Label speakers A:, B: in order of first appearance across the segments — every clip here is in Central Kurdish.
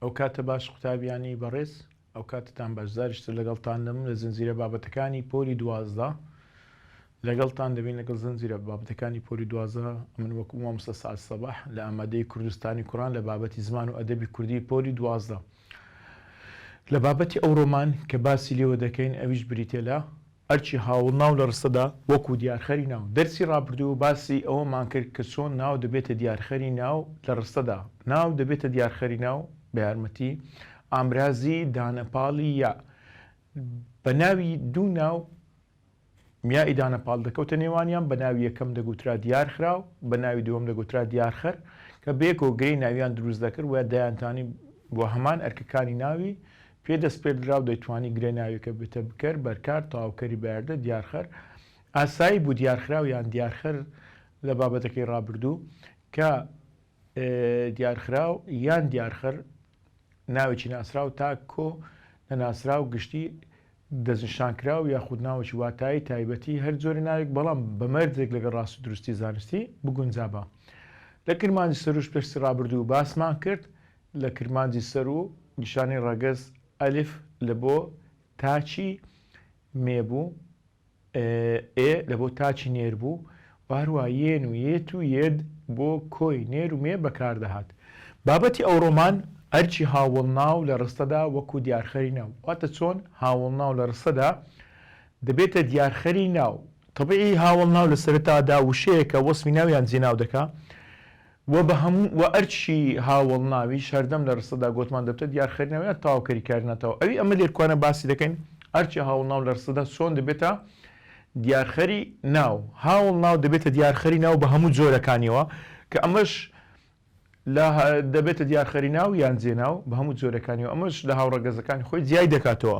A: ئەوکاتە باش قوتابیانی بەڕێز ئەوکاتەتان باش زاریش تر لەگەڵتان دەم لە زنجیرە بابەتەکانی پۆلی دوازدە لەگەڵتان دەبین لەگەڵ زنجیرە بابەتەکانی پۆلی دوازدە من وەکو مامۆستا سعد سەباح لە ئامادەی کوردستانی کوڕان لە بابەتی زمان و ئەدەبی کوردی پۆلی دوازدە لە بابەتی ئەو ڕۆمان کە باسی لێوە دەکەین ئەویش بریتیە لە ئەرکی هاوڵناو لە ڕستەدا وەکوو دیارخەری ناو. دەرسی ڕابردوو باسی ئەوەمان کرد کە چۆن ناو دەبێتە دیارخەری ناو لە ڕستەدا. ناو دەبێتە دیارخەری ناو بە یارمەتی ئامرازی دانەپاڵی یا. بە ناوی دوو ناو یائی دانەپاڵ دەکەوتە نێوانیان، بە ناوی یەکەم دەگوترا دیارخراو، بە ناوی دووەم دەگوترا دیارخەر، کە بەیەکەوە گرێی ناویان دروست دەکرد و دەیانتانی بۆ هەمان ئەرکەکانی ناوی پێ دەسپێردرا و دەیتوانی گرێ ناویەکە بێتە بکەر، بەرکار، تەواوکەری، بەیاردە، دیارخەر. ئاسایی بوو دیارخراو یان دیارخەر لە بابەتەکەی ڕابردوو، کە دیارخراو یان دیارخەر ناوێکی ناسراو تا کۆ نەناسراو گشتی دەستنیشانکراو یاخود ناوێکی واتایی تایبەتی هەر جۆرە ناوێک بەڵام بە مەرجێک لەگەڵ ڕاست و دروستی زانستی بگونجابا. لە کرمانجی سروشت دەرسی ڕابردوو باسمان کرد لە کرمانجی سەر و نیشانەی ڕەگەز، ئەلف، لە بۆ تاچی مێ بوو، ئێ، لە بۆ تاچی نێر بوو و هەروەها یێن و یێت و یێد بۆ کۆی نێر و مێ بەکار دەهات. بابەتی ئەوڕۆمان ئەرکی هاوەڵناو لە ڕستەدا وەکوو دیارخەری ناو، واتە چۆن هاوەڵناو لە ڕستەدا دەبێتە دیارخەری ناو. تەبعی هاوەڵناو لە سەرەتادا وشەیەکە وەسفی ناو یان جێناو دەکا، وە بە هەموو وە ئەرچی هاوەڵ ناویش هەردەم لە رستەدا گۆتمان دەبتە دیار خەیر ناوی ئەر تاو کەری کاری ناتاو ئەوی ئەمە لێرکوانە باسی دەکەین ئەرچی هاوڵ ناو لە رستەدا چۆن دەبێتە دیار خەری ناو هاوڵ ناو دەبێتە دیار خەری ناو بە هەموو جۆرە کانیەوە کە ئەمەش لە دەبێتە دیار خەری ناو یان جێ ناو بە هەموو جۆرەکانیەوە ئەمەش لە هاوڕەگەزەکانی خۆی جیای دەکاتەوە.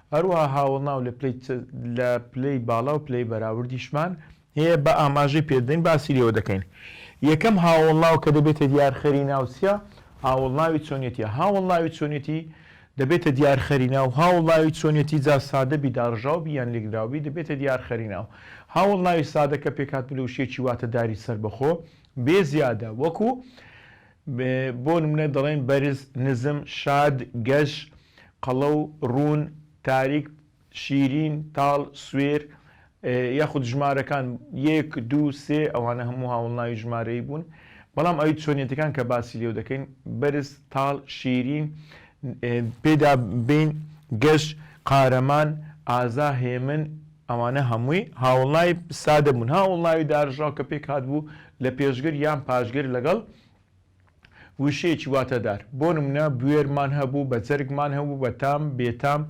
A: هەروەها هاوەڵناو لە پلەی باڵا و پلەی بەراوردیشمان هەیە بە ئاماژەی پێدەین باسی لێوە دەکەین یەکەم هاوەڵناو کە دەبێتە دیارخەری ناوچە هاوەڵناوی چۆنیەتیە هاوەڵناوی چۆنیەتی دەبێتە دیارخەری ناو هاوڵناوی چۆنیەتی جا سادەبی داڕژاوبی یان لێکدراوبی دەبێتە دیارخەری ناو هاوەڵناوی سادە کە پێکهاتبوو لە وشەیەکی واتەداری سەربەخۆ بێ زیادە وەکو بۆ نمونە دەڵێن بەرز، نزم، شاد، گەش، قەڵەو، ڕوون، تاریک، شیرین، تاڵ، سوێر، یاخود ژمارەکان، یەک، دوو، سێ، ئەوانە هەموو هاوەڵناوی ژمارەیی بوون، بەڵام ئەوی چۆنیەتەکان کە باسی لێو دەکەین، بەرز، تاڵ، شیرین، پێدا بین، گەش، قارەمان، ئازا، هێمن، ئەوانە هەمووی هاوڵناوی سادە بوون، هاوڵناوی دارژاو کە پێک هاتبوو لە پێشگر یان پاشگر لەگەڵ وشەیەکی واتادار، بۆ نموونە بوێرمان هەبوو، بەجەرگمان هەبوو، بەتام، بێتام،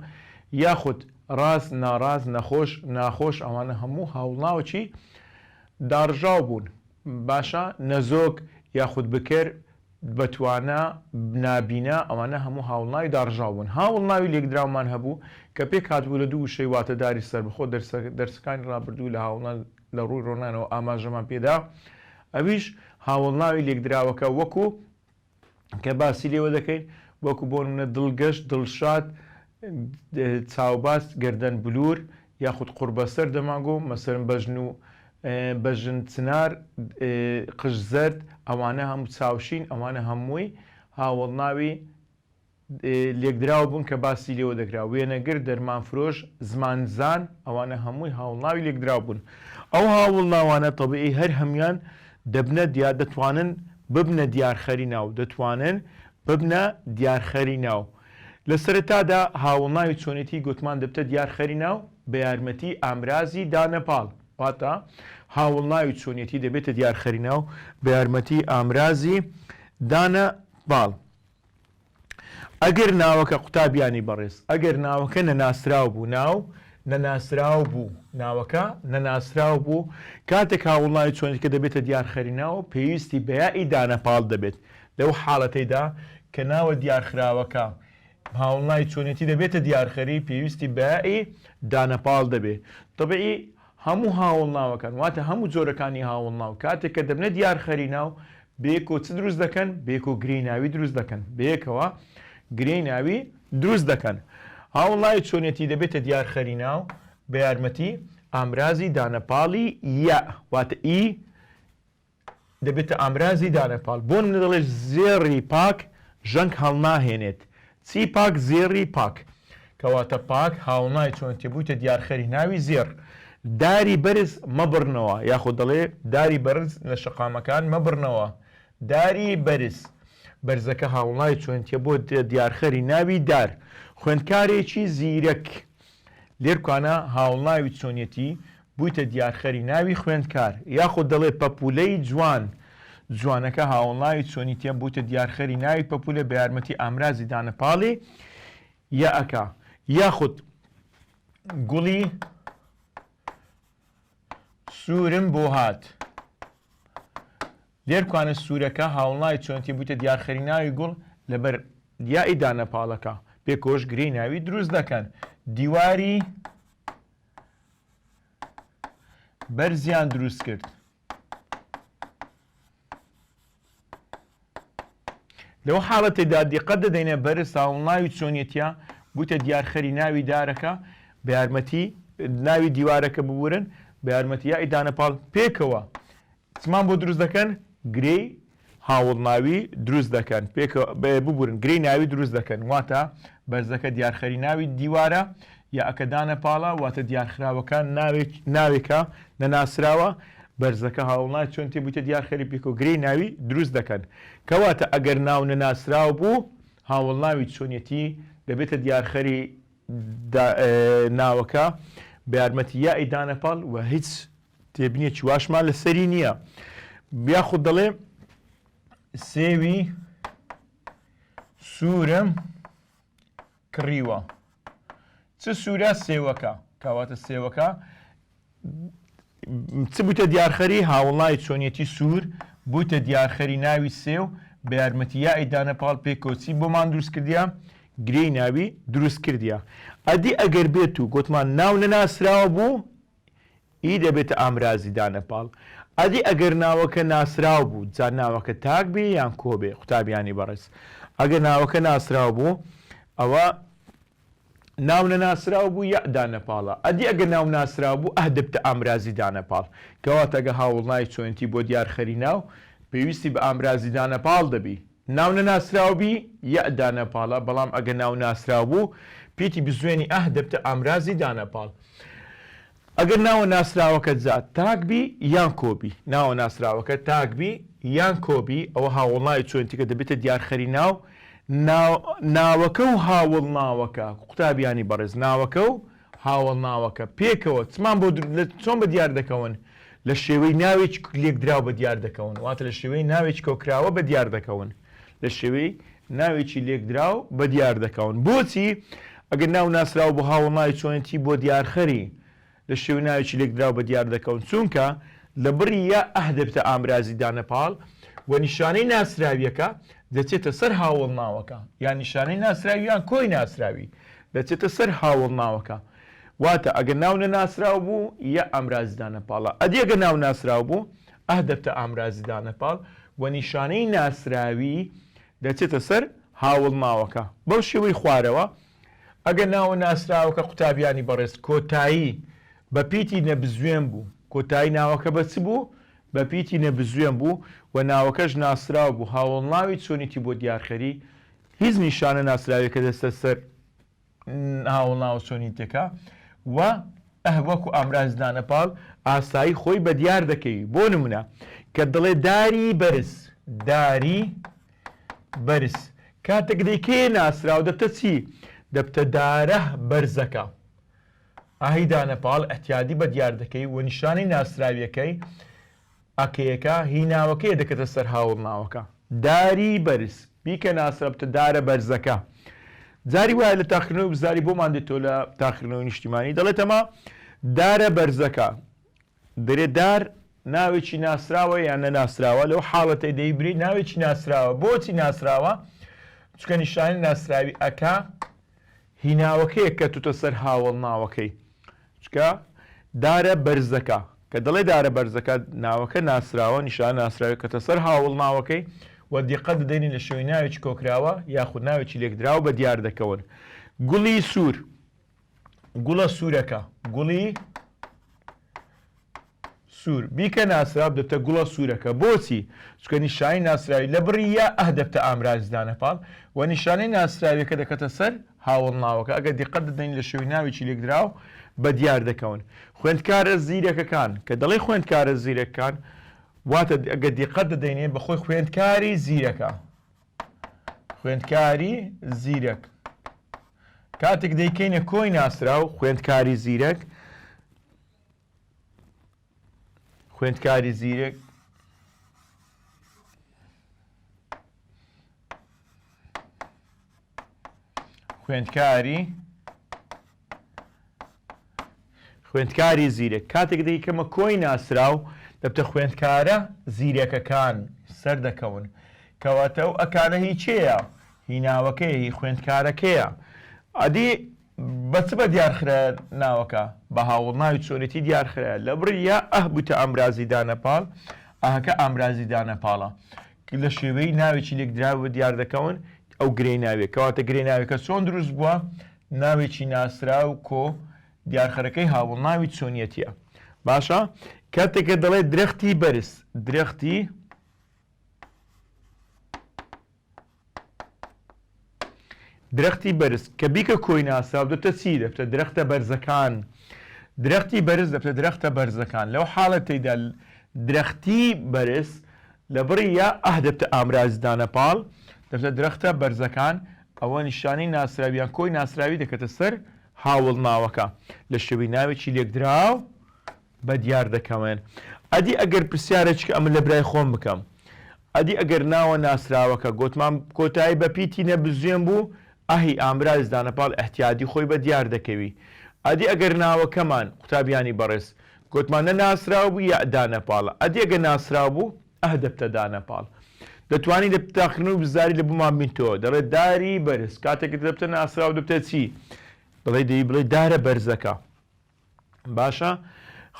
A: یاخود ڕاز، ناڕاز، نەخۆش، ناخۆش، ئەوانە هەموو هاوڵناوەکی داڕژاو بوون، باشە نەزۆک یاخود بکەر، بەتوانا نابینا ئەوانە هەموو هاوڵناوی داڕژاو بوون هاوڵناوی لێکدراومان هەبوو کە پێک هاتبوو لە دوو وشەی واتەداری سەربەخۆ دەرسەکانی ڕابردوو لە هاوڵنا لە ڕووی ڕۆنانەوە ئاماژەمان پێدا ئەویش هاوڵناوی لێکدراوەکە وەکو کە باسی لێوە دەکەین وەکو بۆ نمونە دڵگەش دڵشاد چاوباس گەردەن بلور یاخود قوڕبەسەر دەمانگۆ مەسەرم بەژن و بەژن چنار، قژ زەرد، ئەوانە هەموو چاوشین، ئەوانە هەمووی هاوەڵناوی لێکدراو بوون کە باسی لێوە دەکرا، وێنەگر، دەرمانفرۆش، زمانزان، ئەوانە هەمووی هاوڵناوی لێکدراو بوون. ئەو هاوڵناوانە تەبیعی هەر هەموویان دەبنە دیار، دەتوانن ببنە دیارخەری ناو، دەتوانن ببنە دیارخەری ناو، لە سەرەتادا هاوڵناوی چۆنێتیی گۆتمان دەبتە دیار خەری ناو بە یارمەتیی ئامرازی دانە پاڵ. واتە، هاوڵناوی چۆنێتی دەبێتە دیار خەری ناو بە یارمەتیی ئامرازی دانە پاڵ. ئەگەر ناوەکە، قوتابیانی بەڕێز، ئەگەر ناوەکە نەناسراو بوو، ناو، نەناسراو بوو، ناوەکە، نەناسراو بوو، کاتێک هاوڵناوی چۆنێتیکە دەبێتە دیار خەری ناو، پێویستی بە یائی دانە پاڵ دەبێت. لەو حاڵەتەیدا کە ناوە دیارخراوەکە هاوڵنای چۆنێتی دەبێتە دیارخەری پێویستی بە ی دانەپاڵ دەبێ تەبعی هەموو هاوڵناوەکان واتە هەموو جۆرەکانی هاوڵناو کاتێک کە دەبنە دیارخەری ناو بەیەکەوە چ دروست دەکەن بەیەکەوە گرێی ناوی دروست دەکەن بەیەکەوە گرێی ناوی دروست دەکەن هاوڵناوی چۆنێتی دەبێتە دیارخەری ناو بە یارمەتی ئامرازی دانەپاڵی یە واتە ئی دەبێتە ئامرازی دانەپاڵ بۆن منە دەڵێت زێڕی پاک ژەنگ هەڵناهێنێت چی پاک زێڕی پاک کەواتە پاک هاوڵنای چۆنتی بوویتە دیارخەری ناوی زێڕ داری بەرز مەبڕنەوە یاخۆ دەڵێ داری بەرز لە شەقامەکان مەبڕنەوە داری بەرز بەرزەکە هاوڵای چۆنتیە بۆ دیارخەری ناوی دار خوێندکارێکی زیرەک لێرکوانا هاوڵناوی چۆنیەتی بوویتە دیارخەری ناوی خوێندکار یاخود دەڵێ پەپوولەی جوان جوانەکە هاوڵناوی چۆنیتیە بوویتە دیارخەری ناوی پەپوولە بەیارمەتی ئامرازی دانە پاڵی یەئەکە یاخود گوڵی سوورم بۆ هات. لێر کوانە سورەکە هاوڵناوی چۆنتی بویتە دیار خەری ناوی گوڵ لە بەر دیائی دا نەپاڵەکە بێ کۆش گرێی ناوی دروست دەکەن دیواری بەرزیان دروست کرد لەو حاڵەتی دا دیقەت دەدەینە بەرز هاوڵناوی چۆنیەتە بویتە دیار خەری ناوی دارەکە بە یارمەتی ناوی دیوارەکە ببورن بە یارمەتی یائی دانەپاڵ پێکەوە چمان بۆ دروست دەکەن؟ گرێی هاوڵ ناوی دروست دەکەن پێکە ببورن گرێی ناوی دروست دەکەن واتە بەرزەکە دیارخەری ناوی دیوارە یا ەکە دانە پاڵە واتە دیارخراوەکە ناوێک ناوێکە نەناسراوە بەرزەکە هاوڵناوی چۆن تێ بوویتە دیارخەری پێکۆ گرێی ناوی دروست دەکەن کەواتە ئەگەر ناو نەناسراو بوو هاوڵناوی چۆنیەتی دەبێتە دیارخەری ناوەکە بە یارمەتی یائی دانە پاڵ و هیچ تێبنیە چی واشمان لە سەری نییە یاخود دەڵێ سێوی سوورم کڕیوە چ سوورە سێوەکە کاواتە سێوەکە چ بوتە دیارخەری هاوڵای چۆنیەتی سوور بوتە دیارخەری ناوی سێو بە یارمەتی یائی دانە پاڵ پێ کۆچی بۆمان دروست کردیا گرێی ناوی دروست کردیا ئەدی ئەگەر بێت و گوتمان ناو نەناسراوە بوو ی دەبێتە ئامرازی دانەپاڵ ئەدی ئەگەر ناوەکە ناسراو بوو جا ناوەکە تاک بێ یان کۆ بێ قوتابیانی بەڕێز ئەگەر ناوەکە ناسراو بوو ئەوە ناو نەناسراو بوو یەع دانەپاڵە ئەدی ئەگەر ناو ناسراو بوو ئه دەبتە ئامرازی دانەپاڵ کەواتە گە هاوڵناوی چۆنێتی بۆ دیار خەری ناو پێویستی بە ئامرازی دانەپاڵ دەبی ناو نەناسراو بی یئ دانەپاڵە بەڵام ئەگە ناو ناسراو بوو پیتی بزوێنی ئه دەبتە ئامرازی دانەپاڵ ئەگەر ناوە ناسراوەکەت جا تاک بی یان کۆ بی ناوە ناسراوەکە تاک بی یان کۆ بی ئەوە هاوەڵناوی چۆنیتەکە دەبێتە دیارخەری ناو ناو ناوەکە و هاوەڵناوەکە قوتابیانی بەڕێز ناوەکە و هاوەڵ ناوەکە، پێکەوە، چمان بۆ دروست لە چۆن بە دیار دەکەون؟ لە شێوەی ناوێکی لێکدراو بە دیار دەکەون، واتە لە شێوەی ناوێکی کۆکراوە بە دیار دەکەون. لە شێوەی ناوێکی لێکدراو بە دیار دەکەون. بۆچی ئەگەر ناو ناسراو بۆ هاوەڵ ناوی چۆنێتی بۆ دیارخەری لە شێوەی ناوێکی لێکدراو بە دیار دەکەون؟ چونکە لە بڕی یا ئه دەبێتە ئامرازی دانە پاڵ و نیشانەی ناسراوییەکە دەچێتە سەر هاوەڵ ناوەکە یان نیشانەی ناسراوی یان کۆی ناسراوی دەچێتە سەر هاوەڵ ناوەکە واتە ئەگە ناو نەناسراو بوو یە ئامرازی دانە پاڵە ئەدی ئەگە ناو ناسراو بوو ئه دەبتە ئامرازی دانە پاڵ وە نیشانەی ناسراوی دەچێتە سەر هاوەڵ ناوەکە بەو شێوەی خوارەوە ئەگە ناوە ناسراوەکە قوتابیانی بەڕێز کۆتایی بە پیتی نەبزوێن بوو کۆتایی ناوەکە بە چ بوو بە پیتی نەبزوێن بوو وە ناوەکەش ناسراو بوو هاوەڵ ناوی چۆنیتی بۆ دیارخەری هیچ نیشانە ناسراوێکە دەستە سەر هاوڵ ناوە چۆنی تێکا و ئه وەکو ئامراز دانە پاڵ ئاسایی خۆی بە دیار دەکەی بۆ نمونە کە دڵێ داری بەرز داری بەرز کاتێک دەیکێ ناسرااو دەبتە چی دەبتە دارە بەرزەکە ئاهی دانە پاڵ ئەتیادی بە دیار دەکەی و نیشانەی ناسراویەکەی ئەکەیەکە هی ناوەکەیە دەکەتە سەر هاوڕناوەکە، داری بەرز، بیکە ناسرەبتە دارە بەرزەکە. جاری وایە لە تاقیکردنەوەی وزاری بۆمان دێتەوە لە تاقیکردنەوەی نیشتیمانی دەڵێتەمە دارە بەرزەکە. دەرێ دار ناوێکی ناسراوە یان نەناسراوە لەو حاڵەتەی دەیبرێ ناوێکی ناسراوە بۆچی ناسراوە چونکە نیشانی ناسراوی ئەکا هی ناوەکەیە کەتوتە سەر هاوەڵ ناوەکەی چکە دارە بەرزەکە کە دەڵێ دارە بەرزەکە ناوەکە ناسراوە نیشانە ناسراوی کەتە سەر هاوەڵ ناوەکەی و دیقەت دەدەینی لە شێوەی ناوێکی کۆکراوە یاخود ناوێکی لێکدراو بە دیار دەکەون گوڵی سوور گوڵە سوورەکە گوڵی سوور، بیکە ناسراو دەبتە گوڵە سوورەکە، بۆچی؟ چونکە نیشانەی ناسراوی لە بڕی یا ئه دەبتە ئامرازی دانە پاڵ و نیشانەی ناسراویەکە دەکەتە سەر هاوەڵناوەکە، ئەگەر دیقەت دەدەین لە شێوەی ناوێکی لێکدراو بەدیار دەکەون. خوێندکارە زیرەکەکان، کە دەڵێ خوێندکارە زیرەککان، واتە ئەگەر دیقەت دەدەینێ بە خۆی خوێندکاری زیرەکە. خوێندکاری زیرەک. کاتێک دەیکەینە کۆی ناسراو، خوێندکاری زیرەک، خوێندکاری زیرەک خوێندکاری خوێندکاری زیرەک کاتێک دەی کەمە کۆی ناسراو دەبتە خوێندکارە زیرەکەکان سەر دەکەون کەواتە و ئەکانە هیچەیە هیناوەکەی خوێندکارەکەیە ئەدی بە چ بە دیار خرایە ناوەکە؟ بە هاوەڵناوی چۆنێتی دیار خرایە. لە بڕی یا ئه بووتە ئامرازی دانەپاڵ، ئهکە ئامرازی دانەپاڵە. ک لە شێوەیی ناوێکی لێکدراوەوە دیار دەکەون، ئەو گرێی ناویە. کەواتە گرێی ناویەکە چۆن دروست بووە؟ ناوێکی ناسراو، کۆ، دیارخەرەکەی هاوەڵناوی چۆنیەتیە. باشە؟ کاتێک کە دەڵێ درەختی بەرز، درەختی درەختی بەرز کە بیکە کۆی ناساو دەبتە چی؟ دەبتە درەختە بەرزەکان درەختی بەرز دەبتە درەختە بەرزەکان لەو حاڵەتەیدا درەختی بەرز لە بڕی یا ئه دەبتە ئامرازی دانە پاڵ دەبتە درەختە بەرزەکان ئەوە نیشانەی ناسراویان کۆی ناسراوی دەکەتە سەر هاوڵناوەکە لە شێوەی ناوێکی لێکدراو بە دیار دەکەوێن ئەدی ئەگەر پرسیارێچکە ئەمە لە برای خۆم بکەم ئەدی ئەگەر ناوە ناسراوەکە گۆتمان کۆتایی بە پیتی نە بزوێن بوو ئەهی ئامراز دانە پاڵ ئیحتیادی خۆی بە دیار دەکەوی ئەدی ئەگەر ناوەکەمان قوتابیانی بەڕێز گۆتمان نە ناسراو بوو یە دانە پاڵە ئەدی ئەگە ناسراو بوو ئەه دەبتە دانە پاڵ دەتوانی لە تاخنەوە بزاری لە بوومان بینتەوە دەڵێت داری بەرز کاتێکت دەبتە ناسراو دەبتە چی بڵێ دەی بڵێ دارە بەرزەکە باشە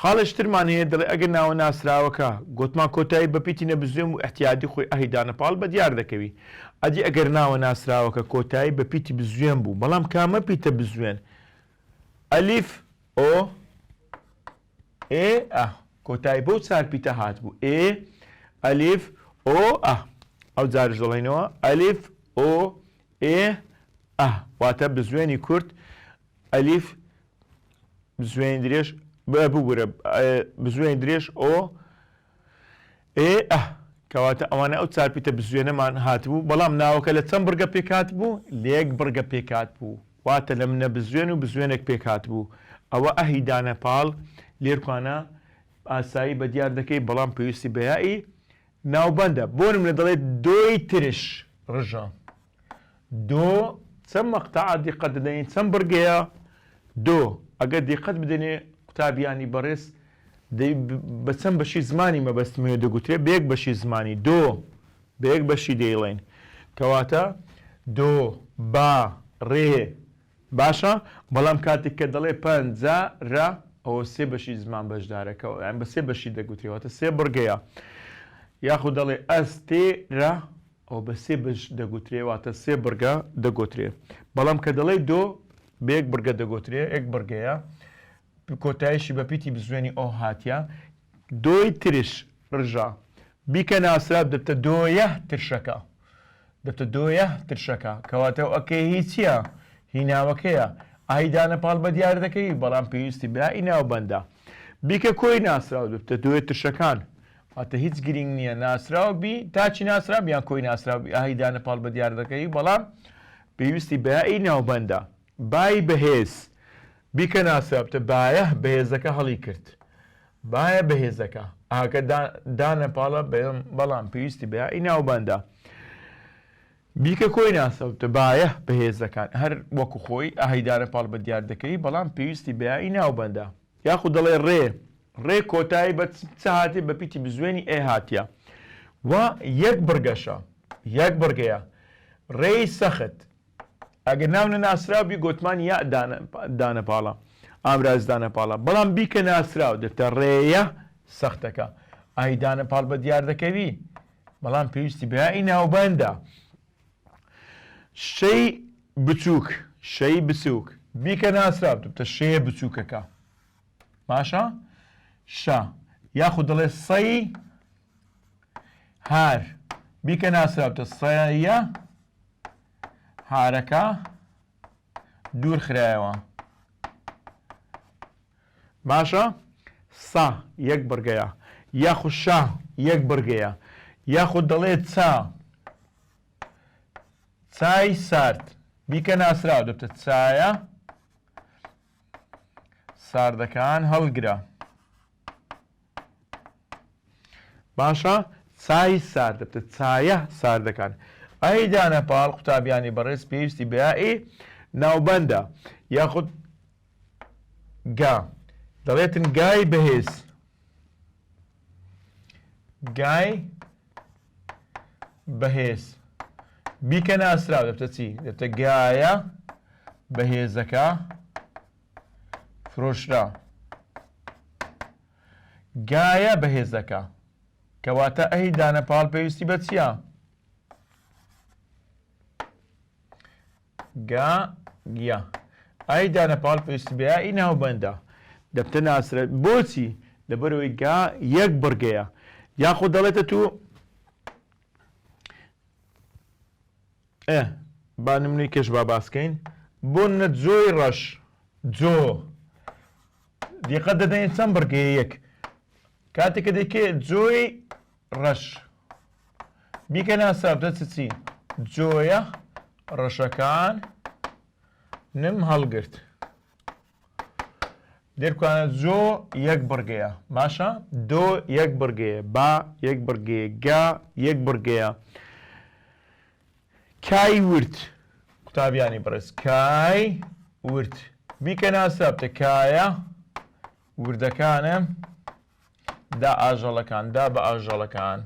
A: خاڵێش ترمان هەیە دەڵێ ئەگەر ناوە ناسراوەکە گۆتمان کۆتایی بە پیتی نەبزوێم و ئیحتیادی خۆی ئەهی دانە پاڵ بە دیار دەکەوی ئەدی ئەگەر ناوە ناسراوەکە کۆتایی بە پیتی بزوێن بوو بەڵام کامە پیتە بزوێن ئەلیف ئۆ ئێ ئە کۆتایی بەو چار پیتە هات بوو ئێ ئەلیف ئۆ ئە ئەو جارش دەڵێنەوە ئەلیف ئۆ ئێ ئە واتە بزوێنی کورد ئەلیف بزوێنی درێژ بە ببورە بزوێنی درێژ ئۆ ئێ ئە کەواتە ئەوانە ئەو چارپیتە بزوێنەمان هاتبوو بەڵام ناوەکە لە چەند بڕگە پێکات بوو لێک بڕگە پێکات بوو واتە لە منە بزوێن و بزوێنێک پێکات بوو ئەوە ئەهی دانە پاڵ لێرکانە ئاسایی بە دیار دەکەی بەڵام پێویستی بەیایی ناوبەندە بۆنم لە دەڵێت دۆی ترش ڕژە دۆ چەند مەقتەعە دیقەت دەدەین چەند بڕگەیە دۆ ئەگەر دیقەت بدەنێ قوتابیانی بەڕێز دەی بە چەند بەشی زمانی مەبەستم هەیە دەگوترێ بە یەک بەشی زمانی دۆ بە یەک بەشی دەیڵێن کەواتە دۆ با ڕێ باشە بەڵام کاتێک کە دەڵێ پە نجا رە ئەوە سێ بەشی زمان بەشدارەکە یان بە سێ بەشی دەگوترێ واتە سێ بڕگەیە یاخود دەڵێ ئە ستێ رە ئەوە بە سێ بەش دەگوترێ واتە سێ بڕگە دەگۆترێ بەڵام کە دەڵێ دۆ بە یەک بڕگە دەگۆترێ یەک بڕگەیە کۆتایشی بە پیتی بزوێنی ئۆ هاتیە. دۆی ترش ڕژە بیکە ناسراب دەبتە دۆیه ترشەکە دەبتە دۆیه ترشەکە کەواتە ئەو ەکەیە هی چیە؟ هی ناوەکەیە ئای دانە پاڵ بە دیار دەکەوی بەڵام پێویستی بە ی ناوبەندە بیکە کۆی ناسراو دەبتە دۆیە ترشەکان واتە هیچ گرینگ نیە ناسراو بی تاچی ناسراب یان کۆی ناسراو بی ئای دانە پاڵ بە دیار دەکەوی بەڵام پێویستی بە ی ناوبەندە بای بەهێز بیکە ناسرابتە بایە بەهێزەکە هەڵی کرد بایە بەهێزەکە ئاکە دانە پاڵە بەم بەڵام پێویستی بە ئی ناوباندا بیکە کۆی ناسەوتە بایە بەهێزەکان هەر وەکو خۆی ئاهیدانە پاڵ بە دیار دەکەی بەڵام پێویستی بە ئی ناوباندا یاخود دەڵێ ڕێ ڕێ کۆتایی بە چ هاتی بە پیتی بزوێنی ئێ هاتیە و یەک بڕگەشە یەک بڕگەیە ڕێی سەخت ئەگەر ناو نەناسراو بی گۆتمان یاء دانە پاڵە ئامراز دانە پاڵە بەڵام بی کە ناسراو دەتە ڕێیە سەختەکە ئای دانە پاڵ بە دیار دەکەوی بەڵام پێویستی بەیائی ناوبەندە شەی بچووک شەی بچووک بیکە ناسراو دەبتە شێ بچووکەکە باشە شا یاخود دەڵێ سەی هار بیکە ناسراوتە سەیە هارەکە دوورخرایەوە باشە سا یەک بڕگەیە یاخو شا یەک بڕگەیە یاخو دەڵێت چا چای سارد بیکە ناسراو دەبتە چایە ساردەکان هەڵگرە باشە چای سارد چایە ساردەکان ئەی دانە پاڵ قوتابیانی بەڕێز پێویستی بەیائی ناوبەندە یاخود گا دەڵێتن گای بەهێز گای بەهێز بیکە ناسراو دەبتە چی دەبتە گایە بەهێزەکە فرۆشرا گایە بەهێزەکە کەواتە ئەهی دانە پاڵ پێویستی بە چییە؟ گا گیا ئای دانە پاڵ پێویستی بە ئی ناوبەندە دەبتە ناسرە بۆچی لەبەرەوەی گا یەک بڕگەیە یاخۆ دەڵێتە تو ئێ با نمونەی کێش با باس کەین بۆ نە جۆی ڕەش جۆ دیقەت دەدەین چەند بڕگەیە یەک کاتێک کە دەکێ جۆی ڕەش بیکە ناسابدە چ چی جۆیە ڕەشەکان نم هەڵگرت دێرکوانە زۆ یەک بڕگەیە باشە دۆ یەک بڕگەیە با یەک بڕگەیە گا یەک بڕگەیە کای ورد قوتابیانی بڕێز کای ورد بیکە ناسابتە کایە وردەکانە دا ئاژەڵەکان دا بە ئاژەڵەکان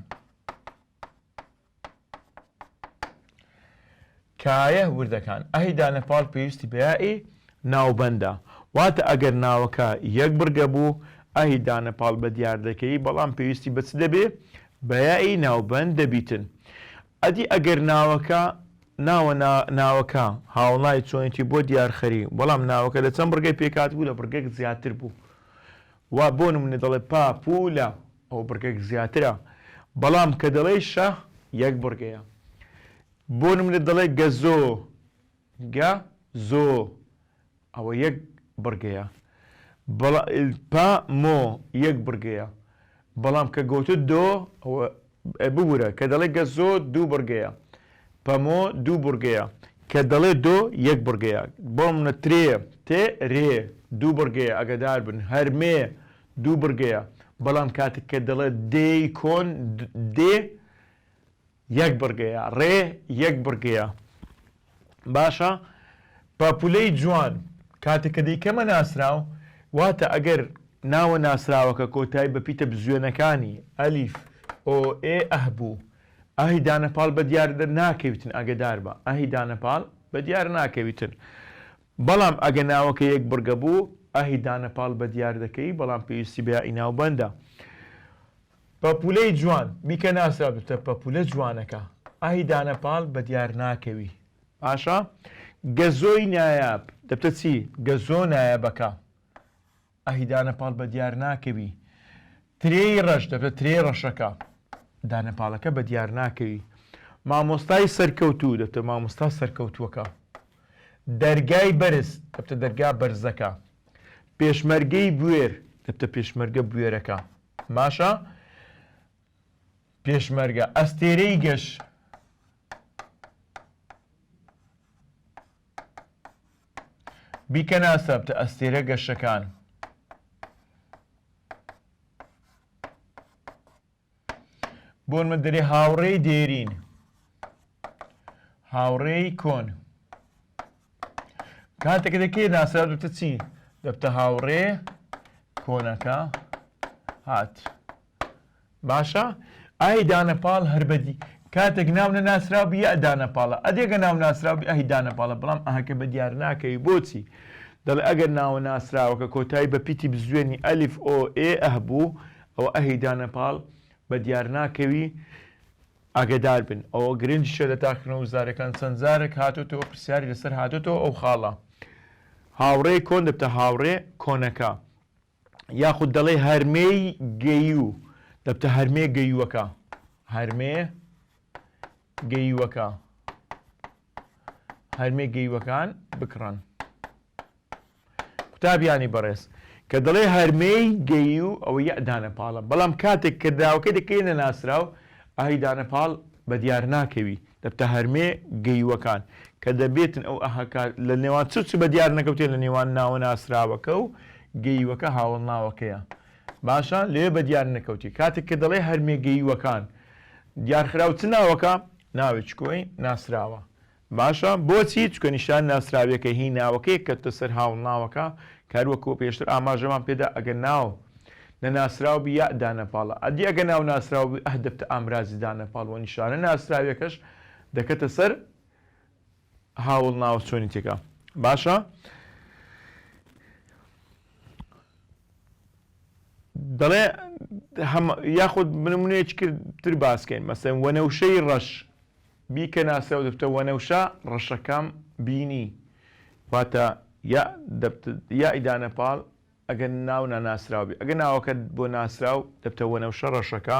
A: کایه وردەکان، ئه دانە پاڵ پێویستی بە یائ ناوبەندە، واتە ئەگەر ناوەکە یەک بڕگە بوو، ئه دانە پاڵ بە دیار دەکەی، بەڵام پێویستی بە چ دەبێ؟ بە یائ ناوبەند دەبیتن. ئەدی ئەگەر ناوەکە ناوە نا ناوەکە هاوڵای چۆنێتی بۆ دیار خەری، بەڵام ناوەکە لە چەند بڕگەی پێکهاتبوو، لە بڕگەک زیاتر بوو. وا بۆ نموونە دەڵێ پا پوولە. ئەو بڕگەک زیاترە بەڵام کە دەڵێی شە یەک بڕگەیە بۆ نمونە دەڵێ گەزۆ گە زۆ ئەوە یەک بڕگەیە بەڵا پە مۆ یەک بڕگەیە بەڵام کە گۆتت دۆ ئەوە ئە ببورە کە دەڵێ گە زۆ دوو بڕگەیە پە مۆ دوو بڕگەیە کە دەڵێ دۆ یەک بڕگەیە بۆ نمونە ترێ تێ رێ دوو بڕگەیە ئەگەدار بن هەر مێ دوو بڕگەیە بەڵام کاتک کە دەڵێ دێی کۆن دێ یەک بڕگەیە ڕێ یەک بڕگەیە باشە پاپولەی جوان کاتێک کە دەیکەمە ناسراو واتە ئەگەر ناوە ناسراوەکە کۆتایی بە پیتە بزوێنەکانی ئەلیف ئۆ ئێ ئەه بوو ئاهی دانەپاڵ بە دیار ناکەویتن ئەگەدار بە ئاهی دانەپاڵ بە دیار ناکەویتن بەڵام ئەگە ناوەکە یەک بڕگە بوو ئاهی دانە پاڵ بە دیار دەکەی بەڵام پێویستی بە یائی ناوبەندە. پەپولەی جوان، بیکە ناسراوببتە پەپولە جوانەکە. ئاهی دانە پاڵ بە دیار ناکەوی. باشە. گەزۆی نایاب، دەبتە چی؟ گەزۆ نایابەکە. ئەهی دانە پاڵ بە دیار ناکەوی ترێی ڕەش دەبێت ترێی ڕەشەکە دانە پاڵەکە بە دیار ناکەوی مامۆستای سەرکەوتوو دەبتە مامۆستا سەرکەوتووەکە دەرگای بەرز دەبتە دەرگا بەرزەکە پێشمەرگەی بوێر دەبتە پێشمەرگە بوێرەکە باشە پێشمەرگە ئەستێرەی گەش بیکەنە سەبت ئەستێرە گەشەکان. بۆن من دەرێ هاوڕێی دێرین هاوڕێی کۆن کاتێک دەکێ ناسرا دەبتە چی دەبتە هاوڕێ کۆنەکە هات باشە ئای دانەپاڵ هەر بەدی کاتێک ناو نەناسرا بوو یا دانەپاڵە ئەدێگە ناو ناسرا بوو ئەهی دانەپاڵە بەڵام ئەهەکە بە دیار ناکەوی بۆچی دەڵێ ئەگەر ناوە ناسراوەکە کۆتایی بە پیتی بزوێنی ئەلیف ئۆ ئێ ئەه بوو ئەوە ئەهی دانەپاڵ بە دیار ناکەوی ئاگدار بن ئەوە گرنجشە لە تاقنە و زارەکان چەند زارێک هاتوتەوە پرسیاری لەسەر هاتوتەوە ئەو خاڵە هاوڕێ کۆن دەبتە هاوڕێ کۆنەکە یاخود دەڵێی هەرمێی گەییوو، دەبتە هەرمێ گەییوەکە، هەرمێ گەییوەکە، هەرمێ گەییوەکان بکڕن. قوتابیانی بەڕێز، کە دەڵێ هەرمێی گەییوو، ئەوە یەع دانە پاڵە، بەڵام کاتێک کرداوەکەی دەکەیە نەناسراو، ئای دانە پاڵ بەدیار ناکەوی. لە تەهەرمێ گەیوەکان کە دەبێتن ئەو ئەهەکە لە نێوان چ چ بە دیار نەکەوتێ لە نێوان ناوە ناسراوەکە و گەیوەکە هاوەڵ ناوەکەیە باشە لێ بە دیار نەکەوتی کاتێک کە دەڵێ هەرمێ گەیوەکان دیارخراو چ ناوەکە ناوێ چکۆی ناسراوە باشە بۆچی چکە نیشان ناسراویەکە هی ناوەکەی کەتە سەر هاوڵ ناوەکە کاروەکۆ پێشتر ئاماژەمان پێدا ئەگەر ناو نەناسراو بی یاء دانەپاڵە ئەدی ئەگە ناو ناسراو بی ئه دەبتە ئامرازی دانەپاڵ وە نیشانە ناسراویەکەش دەکەتە سەر هاوڵ ناوە چۆنی تێکا باشە دەڵێ هەم یاخود بنمونەیەکی کرد تر باسکەین مەسەن وەنەوشەی ڕەش بی کە ناسراو دەبتە وەنەوشە ڕەشەکەم بینی واتە یاء دەبت یائی دانەپاڵ ئەگەر ناو ناناسراو بێ. ئەگەر ناوەکەت بۆ ناسراو دەبتە وەنەوشە ڕەشەکە،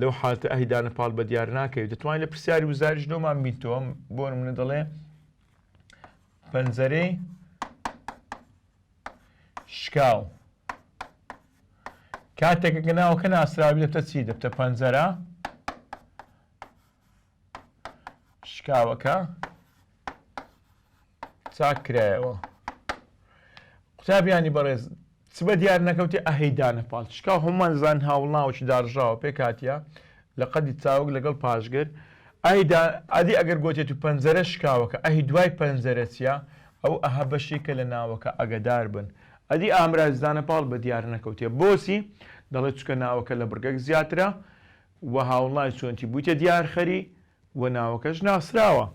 A: لەو حالەتە ئەهلی دانە پاڵ بە دیار ناکەوی. دەتوانی لە پرسیاری وزاریش لۆمان بینتەوە، بۆ نمونە دەڵێ پەنجەرەی شکاو. کاتێک کە ناوەکە ناسراو بێ دەبتە چی؟ دەبتە پەنجەرە. شکاوەکە چاک کرایەوە قوتابیانی بەڕێز چ بە دیار نەکەوتی ئەهەی دانە پاڵ شکا هەمان زان هاوڵناوەکی داڕژاوە پێ کاتە لە قەدی چاوک لەگەڵ پاشگر ئایدا ئادی ئەگەر گوتێت و پەنجەرە شکاوەکە ئەهی دوای پەنجەرە چیە ئەو ئەها بەشێکە لە ناوەکە ئەگەدار بن ئەدی ئامراز دانە پاڵ بە دیار نەکەوتێ بۆچی دەڵێت چکە ناوەکە لە بڕگەک زیاترە و هاونڵای چۆنتی بویتە دیارخەری و ناوەکەش ناسراوە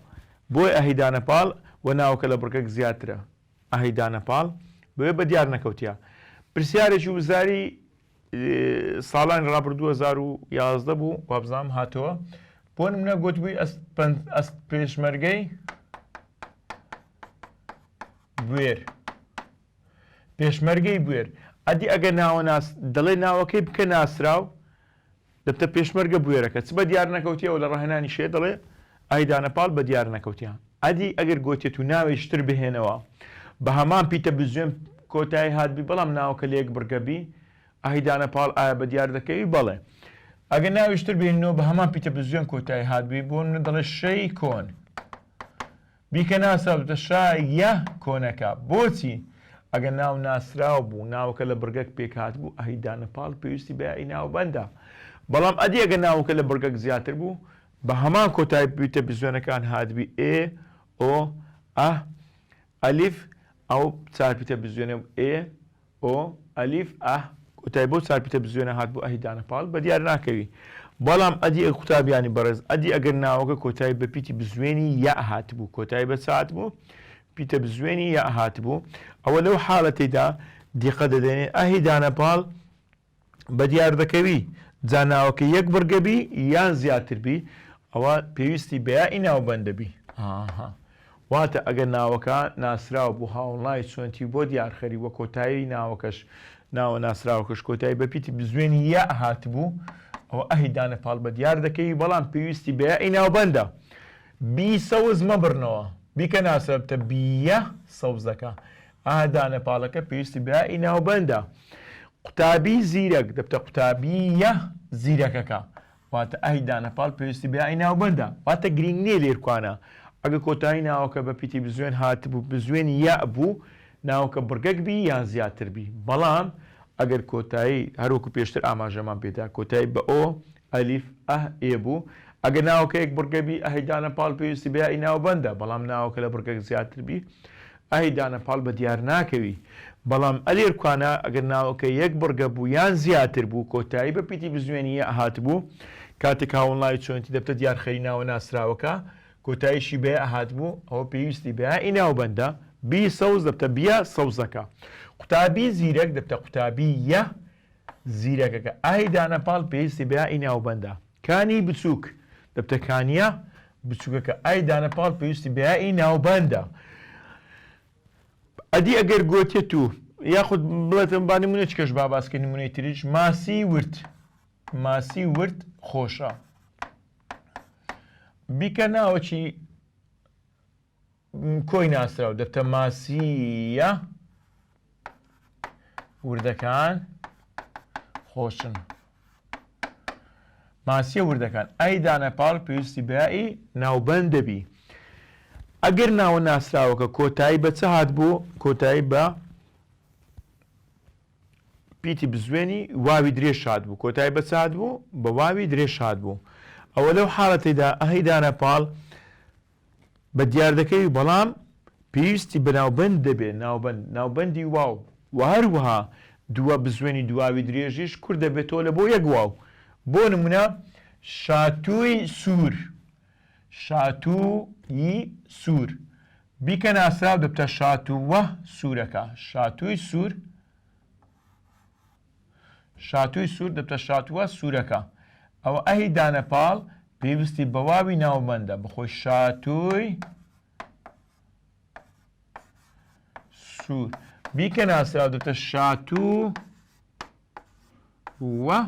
A: بۆی ئەهی دانە پاڵ و ناوەکە لە بڕگەک زیاترە ئەهی دانە پاڵ بۆیە بە دیار نەکەوتیە پرسیارێکی وزاری ساڵانی ڕابردوو دوو هەزار و یازدە بوو وابزانم هاتەوە بۆ نمونە گۆتبوی ئەست پێشمەرگەی بوێر پێشمەرگەی بوێر ئەدی ئەگە ناوە ناس دەڵێ ناوەکەی بکە ناسراو دەبتە پێشمەرگە بوێرەکە چ بەدیار نەکەوتیە و لە ڕاهێنانی شێت دەڵێ ئای دانە پاڵ بەدیار نەکەوتیە ئەدی ئەگەر گۆتێت و ناوێ شتر بهێنەوە بە هەمان پیتە بزوێن کۆتای هاتبی بەڵام ناوەکە لێک بڕگە بی ئای دانە پاڵ ئایا بەدیار دەکەوی بەڵێ ئەگەر ناوێ شتر بهێنەوە بە هەمان پیتە بزوێن کۆتای هاتبی بۆ منە دەڵێ شەی کۆن بیکە ناسراوبێتە شا یە کۆنەکە بۆچی؟ ئەگەر ناو ناسراو بوو ناوەکە لە بڕگەک پێک هاتبوو ئەهی دانە پاڵ پێویستی بە یائی ناوبەندە بەڵام ئەدی ئەگەر ناوەکە لە بڕگەک زیاتر بوو بە هەمان کۆتایی بوویتە بزوێنەکان هاتبی ئێ ئۆ ئە ئەلیف ئەو چارپیتە بزوێنە ئێ ئۆ، ئەلیف، ئه. کۆتای بەو چار پیتە بزوێنە هات بۆ ئه دانە پاڵ بە دیار ناکەوی بەڵام ئەدی ئەگەر قوتابیانی بەڕێز ئەدی ئەگەر ناوەکە کۆتای بە پیتی بزوێنی یاء هاتبوو کۆتای بە چ هاتبوو پیتە بزوێنی یاء هاتبوو ئەوە لەو حالەتەیدا دیقە دەدەێ ئه دانە پاڵ بەدیاردەکەوی جا ناوەکە یەک بڕگە بی یان زیاتر بی ئەوە پێویستی بە یائی ناوبەند دەبی ئاها واتە ئەگەر ناوەکە ناسراو بوو هاوڵناوی چۆنتی بۆ دیارخەری وە کۆتایی ناوەکەش ناوە ناسراوەکەش کۆتایی بە پیتی بزوێنی یا هاتبوو ئەوە ئەهی دانە پاڵ بە دیار دەکەوی بەڵام پێویستی بە یائی ناوبەندە بی سەوز مەبڕنەوە بیکە ناسرا بتە بیە سەوزەکە ئا دانە پاڵەکە پێویستی بە یائی ناوبەندە. قوتابی زیرەک دەبتە قوتابییە زیرەکەکە. واتە ئای دانە پاڵ پێویستی بە یائی ناوبەندە. واتە گرینگ نییە لێرکوانە. ئەگە کۆتایی ناوەکە بە پیتی بزوێن هاتبوو، بزوێنی یاء بوو، ناوەکە بڕگەک بی یان زیاتر بی. بەڵام ئەگەر کۆتایی، هەر وەکو پێشتر ئاماژەمان پێ دا، کۆتایی بە ئۆ، ئەلیف، ئە، ئێ بوو، ئەگە ناوەکە یەک بڕگە بی، ئای دانە پاڵ پێویستی بە یائی ناوبەندە. بەڵام ناوەکە لە بڕگەک زیاتر بی، ئای دانە پاڵ بە دیار ناکەوی بەڵام ئە لێرکوانا ئەگەر ناوەکە یەک بڕگە بوو یان زیاتر بوو کۆتایی بە پیتی بزوێنی یە ئەهاتبوو کاتێک هاوڵناوی چۆنێتی دەبتە دیار خەری ناوە ناسراوەکە کۆتاییشی بە یە ئەهاتبوو ئەوە پێویستی بە یائی ناوبەندە بی سەوز دەبتە بیە سەوزەکە قوتابی زیرەک دەبتە قوتابی یە زیرەکەکە ئای دانە پاڵ پێویستی بە یائی ناوبەندە. کانی بچووک، دەبتە کانییە بچووکەکە، ئای دانە پاڵ پێویستی بە یائی ناوبەندە. ئەدی ئەگەر گۆتێت و یاخود بڵێتن با نموونەچکەش با باس کەین نموونەی تریش، ماسی ورد، ماسی ورد خۆشە. بیکە ناوەکی. کۆی ناسراو، دەتەماسییە وردەکان خۆشن. ماسیە وردەکان ئای دانە پاڵ پێویستی بەیائی ناوبەند دەبی ئەگەر ناوە ناسراوەکە کۆتایی بە چ هات بوو کۆتایی بە پیتی بزوێنی واوی درێژ شاد بوو کۆتای بە چاد بوو بە واوی درێژ شاد بوو ئەوە لەو حاڵەتیدا ئەهی دانە پاڵ بە دیار دەکەوی بەڵام پێویستی بە ناوبەند دەبێ ناوبەند ناوبەندی واو وە هەروەها دووە بزوێنی دواوی درێژیش کورت دەبێتەوە لە بۆ یەک واو بۆ نمونە شاتووی سوور شاتوو ی سوور بیکە ناسراو دەبتە شاتووه سوورەکە شاتووی سوور شاتووی سوور دەبتە شاتووە سوورەکە. ئەوە ئەهی دانە پاڵ پێویستی بە واوی ناوبەندە، بخۆی شاتووی سوور. بیکە ناسراو دەبتە شاتوو وە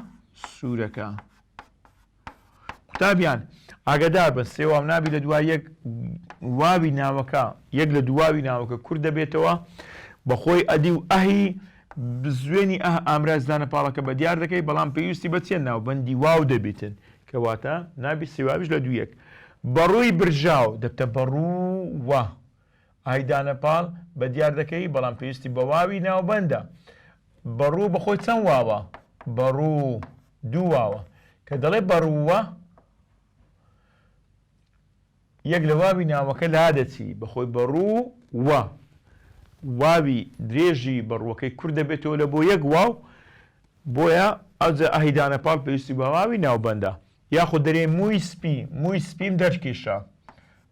A: سوورەکە. قوتابیان ئاگەدار بن سێ واو نابی لە دوای یەک واوی ناوەکە یەک لە دواوی ناوەکە کورد دەبێتەوە بەخۆی ئەدی و ئەهی بزوێنی ئەه ئامراز دانە پاڵەکە بە دیار دەکەی بەڵام پێویستی بە چێن ناو بەندی واو دەبیتن کەواتە نابی سێواویش لە دوویەک بەڕووی برژاو دەبتە بەڕوو وە ئای دانە پاڵ بە دیار دەکەی بەڵام پێویستی بە واوی ناوبەندە بە ڕوو بە خۆی چەند واوە بە ڕوو دوو واوە کە دەڵێ بە ڕووە یەک لە واوی ناوەکە لا دەچی بە خۆی بە ڕوو وە واوی درێژی بە ڕووەکەی کورد دەبێتەوە لە بۆ یەک واو بۆیە ئەوجە ئەهی دانە پاڵ پێویستی بە واوی ناوبەندە یاخود دەرێ مووی سپی مووی سپیم دەرکیشە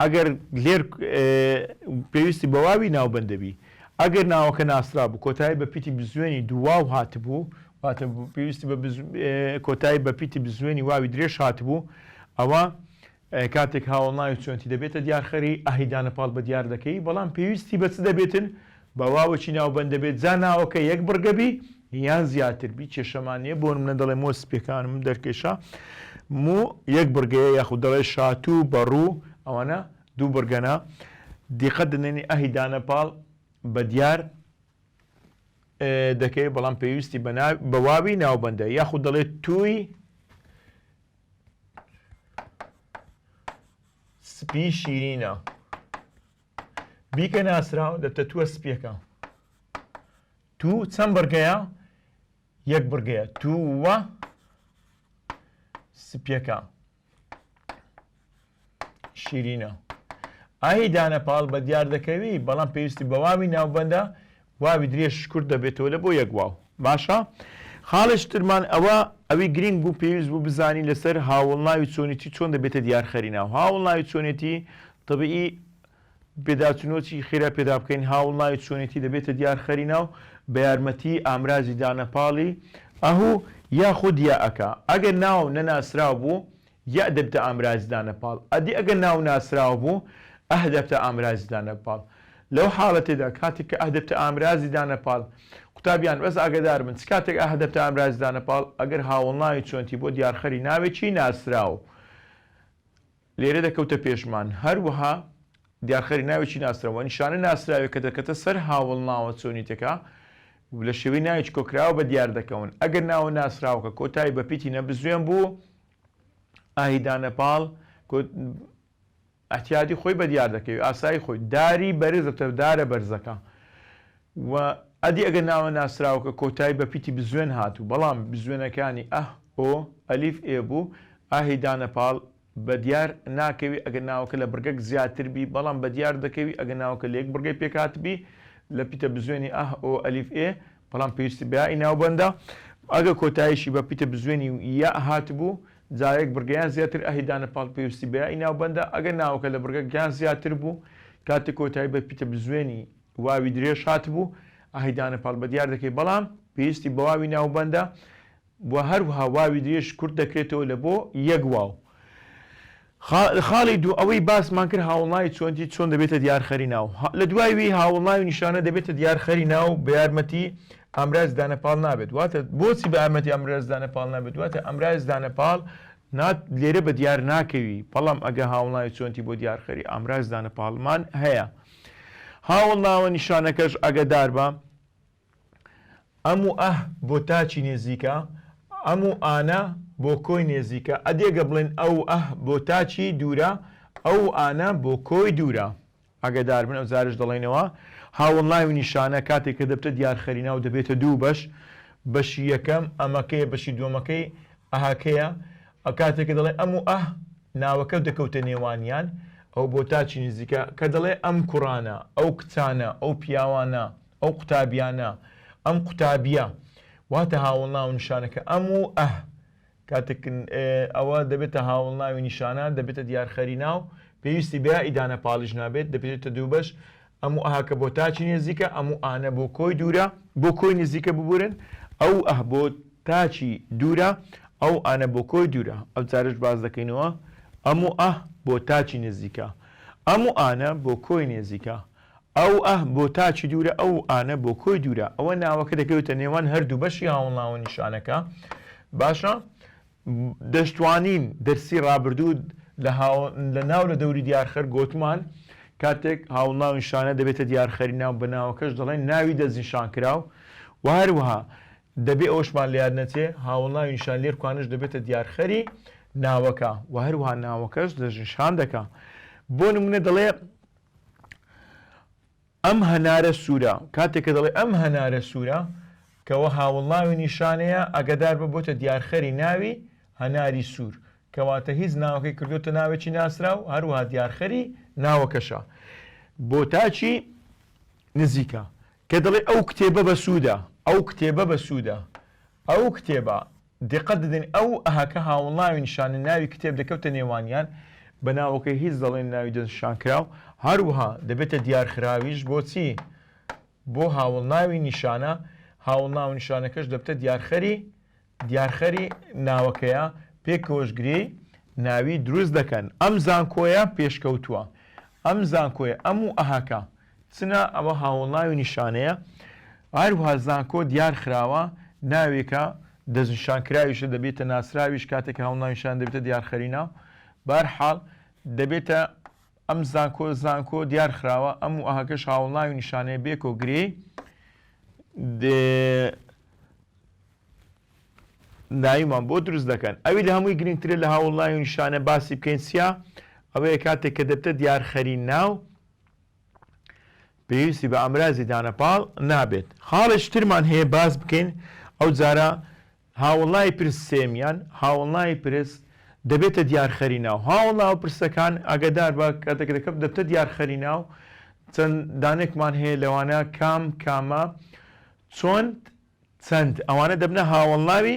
A: ئەگەر لێر پێویستی بە واوی ناوبەند دەبی. ئەگەر ناوەکە ناسرابوو کۆتایی بە پیتی بزوێنی دوو واو هاتبوو، واتە پێویستی بە کۆتایی بە پیتی بزوێنی واوی درێژ هاتبوو، ئەوا کاتێک هاوەڵناوی چۆنتی دەبێتە دیارخەری، ئه ی دانەپاڵ بە دیار دەکەی، بەڵام پێویستی بە چ دەبێتن؟ بە واوێکی ناوبەند دەبێت جا ناوەکە یەک بڕگە بی یان زیاتر بی کێشەمان نییە بۆ نمونە دەڵێ مۆ سپیەکانم دەرکێشا مو یەک بڕگەیە یاخود دەڵێ شاتوو بەڕوو ئەوانە دوو بڕگەنە دیقەت دەنێنی ئەهی دانە پاڵ بە دیار دەکەی بەڵام پێویستی بە واوی ناوبەندە یاخود دەڵێت توی سپی شیرینە بیکە ناسراو لە تەتووە سپیەکە تو چەند بڕگەیە یەک بڕگەیە تووە سپیەکە شیرینە ئاهی دانەپاڵ بە دیار دەکەوی بەڵام پێویستی بەواوی ناوبەندە واوی درێژ کورت دەبێتەوە لە بۆ یەک واو باشە خاڵێکی ترمان ئەوە ئەوی گرینگ بوو پێویست بوو بزانی لەسەر هاوڵناوی چۆنیتی چۆن دەبێتە دیارخەری ناو هاوڵناوی چۆنێتی طبیعی پێداچنۆچی خێرا پێدا بکەین هاوڵناوی چۆنێتی دەبێتە دیارخەری ناو بە یارمەتی ئامرازی دانەپاڵی ئەهو یاخود یائەکە ئەگەر ناو نەناسراو بوو یە دەبتە ئامرازی دانە پاڵ ئەدی ئەگەر ناو ناسراو بوو ئە دەبتە ئامرازی دانە پاڵ لەو حاڵەتەدا کاتێک کە ئە دەبتە ئامرازی دانە پاڵ قوتابیان بەس ئاگەدار بن چ کاتێک ئە دەبتە ئامرازی دانە پاڵ ئەگەر هاوەڵناوی چۆنتی بۆ دیارخەری ناوێکی ناسراو لێرە دەکەوتە پێشمان هەروەها دیارخەری ناوێکی ناسراو نیشانە ناسراوێک کە دەکەتە سەر هاوەڵناوە چۆنیتەکە لە شێوەی ناوێکی کۆکراوە بە دیار دەکەون ئەگەر ناوە ناسراوەکە کۆتایی بە پیتی نەبزوێن بوو ئاهی دانە پاڵ گوت، ئەتیادی خۆی بە دیار دەکەوی، ئاسایی خۆی، داری بەرز دەبتە دارە بەرزەکە و ئەدی ئەگەر ناوە ناسراوەکە کۆتایی بە پیتی بزوێن هات و بەڵام بزوێنەکانی، ئە، ئۆ، ئەلیف، ئێ، بوو، ئاهی دانە پاڵ بە دیار ناکەوی ئەگەر ناوەکە لە بڕگەک زیاتر بی، بەڵام بە دیار دەکەوی ئەگەر ناوەکە لە یەک بڕگەی پێک هاتبی لە پیتە بزوێنی، ئه، ئۆ، ئەلیف، ئێ، بەڵام پێویستی بە یائی ناوبەندە، ئەگەر کۆتاییشی بە پیتە بزوێنی و یاء هاتبوو، جا یەک بڕگە یان زیاتر ئەهلی دانە پاڵ پێویستی بە یائی ناوبەندە، ئەگەر ناوەکە لە بڕگەک یان زیاتر بوو، کاتێک کۆتایی بە پیتە بزوێنی واوی درێژ هاتبوو، ئەهلی دانە پاڵ بەدیار دەکەی، بەڵام پێویستی بە واوی ناوبەندە، و هەروها واوی درێژ کورت دەکرێتەوە لە بۆ یەک واو. خا لە خاڵی دوو ئەوەی باسمان کرد هاوڵناوی چۆنتی چۆن دەبێتە دیار خەری ناو ها لە دوای وی هاوڵناوی نیشانە دەبێتە دیار خەری ناو بە یارمەتی ئامرازی دانە پاڵ نابێت واتە بۆچی بە یارمەتی ئامرازی دانە پاڵ نابێت واتە ئامرازی دانە پاڵ نا لێرە بە دیار ناکەوی بەڵام ئەگە هاوڵناوی چۆنتی بۆ دیار خەری ئامرازی دانە پاڵمان هەیە هاوڵناوە نیشانەکەش ئەگەدار بە ئەم و ئه بۆ تاچی نێزیکە، ئەم و ئانە بۆ کۆی نێزیکە، ئەدی گەر بڵێین ئە و ئه بۆ تاچی دوورە، ئە و ئانە بۆ کۆی دوورە. ئاگەدار بن، ئەوجارەش دەڵێینەوە، هاوەڵناوی و نیشانە کاتێک کە دەبتە دیارخەرینا و دەبێتە دوو بەش، بەشی یەکەم، ئەمەکەیە، بەشی دووەمەکەی، ئەهەکەیە. ئە کاتێک کە دەڵێ ئەم و ئه، ناوەکە دەکەوتە نێوانیان، ئەو بۆ تاچی نێزیکە، کە دەڵێ ئەم کوڕانە، ئەو کچانە، ئەو پیاوانە، ئەو قوتابیانە، ئەم قوتابییە. واتە هاوەڵناو نیشانەکە ئەم و ئه. کاتێک ن ئەوە دەبێتە هاوەڵناوی نیشانە، دەبێتە دیارخەری ناو، پێویستی بە ئیدانە پاڵیش نابێت، دەبێتە دووبەش، ئەم و ئهکە بۆ تاکی نێزیکە، ئەم و ئانە بۆ کۆی دوورە. بۆ کۆی نزیکە ببورن، ئە و ئه بۆ تاکی دوورە، ئە و ئانە بۆ کۆی دوورە. ئەو جارەش باس دەکەینەوە، ئەم و ئه بۆ تاکی نزیکە، ئەم و ئانە بۆ کۆی نێزیکە. ئەو، ئه، بۆ تاکی دوورە، ئەو، ئانە، بۆ کۆی دوورە. ئەوە ناوەکە دەکەوێتە نێوان هەردوو بەشی هاوڵناوە نیشانەکە. باشە. دەشتوانین دەرسی ڕابردوو لە هاو لە ناو لە دەوری دیارخەر گۆتمان کاتێک هاوڵناو نیشانە دەبێتە دیارخەری ناو بە ناوەکەش دەڵێن ناوی دەستنیشانکراو و هەروەها دەبێ ئەوەشمان لە یاد نەچێ هاوڵناوی نیشان لێرکوانەش دەبێتە دیارخەری ناوەکە و هەروەها ناوەکەش دەستنیشان دەکا. بۆ نموونە دەڵێ ئەم هەنارە سوورە، کاتێک کە دەڵێ ئەم هەنارە سوورە، کەوە هاوڵناوی نیشانەیە، ئاگادار بە بۆتە دیارخەری ناوی هەناری سوور، کەواتە هیچ ناوەکەی کردۆتە ناوێکی ناسراو، هەروەها دیارخەری ناوەکەشە. بۆتاکی نزیکە، کە دەڵێ ئەو کتێبە بەسوودە، ئەو کتێبە بەسوودە، ئەو کتێبە دقەت ددن ئە و ه کە هاونڵاوی نشانن ناوی کتێب دەکەوتە نێوانیان بە ناوەکەی هیچ دەڵێن ناوی دەستنشانکراو هەروه دەبێتە دیارخراویش بۆچی بۆ هاوڵناوی نیشانە هاوڵناو نیشانەکەش دەبتە دیارخەری دیارخەری ناوەکەیە پێکەوەش گرێی ناوی دروست دەکەن ئەم زانکۆیە پێشکەوتوە ئەم زانکۆیە ئەم و ئه کە چنە ئەوە هاوڵناوی نیشانەیە هەروها زانکۆ دیار خراوە ناوێکە دەستنیشانکراویشە دەبێتە ناسراویش کاتێک هاوڵناوی نیشانە دەبێتە دیار خەری ناو بەر حاڵ دەبێتە ئەم زانکۆ زانکۆ دیار خراوە ئەم و ئەهەکەش هاوڵناوی نیشانەیە بێکۆ گرێ ناویمان بۆ دروست دەکەن ئەوی لە هەمووی گرنگترە لە هاوڵناوی نیشانە باسی بکەین سیا ئەوەیە کاتێک کە دەبتە دیارخەری ناو پێویستی بە ئامرازی دانە پاڵ نابێت خاڵێکی ترمان هەیە باس بکەین ئەو جارە هاوڵای پرس سێمیان هاوڵای پرس دەبێتە دیارخەری ناو هاوڵا و پرسەکان ئاگدار بە کاتێک دەکەم دەبتە دیارخەری ناو چەند دانێکمان هەیە لەوانە کام کامە چۆن چەند ئەوانە دەبنە هاوەڵناوی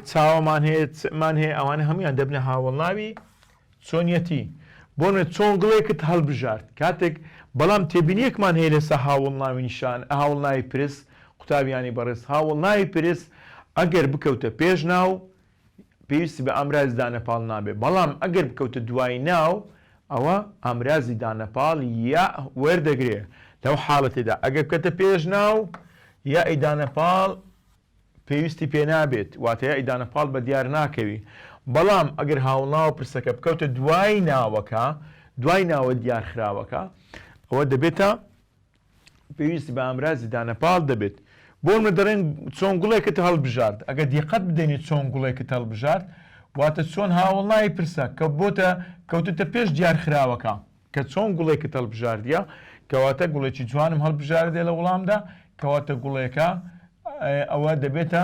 A: چاوەمان هەیە چمان هەیە ئەوانە هەمویان دەبنە هاوەڵناوی چۆنیەتی بۆنە چۆن گڵێکت هەڵبژارد کاتێک بەڵام تێبینیەکمان هەیە لەسە هاوڵ ناوی نیشان هاوڵ ناوی پرس قوتابیانی بەڕێز هاوڵ ناوی پرس ئەگەر بکەوتە پێش ناو پێویستی بە ئامرازی دانەپاڵ نابێت، بەڵام ئەگەر بکەوتە دوای ناو ئەوا ئامرازی دانەپاڵ یاء وەردەگرێت، لەو حاڵەتەدا ئەگەر بکەتە پێش ناو یاء ی دانەپاڵ پێویستی پێ نابێت، واتە یاء ی دانەپاڵ بەدیار ناکەوی، بەڵام ئەگەر هاوڵناوە پرسەکە بکەوتە دوای ناوەکە، دوای ناوە دیارخراوەکە، ئەوە دەبێتە پێویستی بە ئامرازی دانەپاڵ دەبێت. بۆ نمونە دەڵێن چۆن گوڵێکت هەڵبژارد، ئەگەر دیقەت بدەینێ چۆن گوڵێکت هەڵبژارد واتە چۆن هاوەڵناوی پرسە کە بۆتە کەوتۆتە پێش دیارخراوەکە کە چۆن گوڵێکت هەڵبژاردیە کەواتە گوڵێکی جوانم هەڵبژاردێ لە وڵامدا کەواتە گوڵێکە ئەوە دەبێتە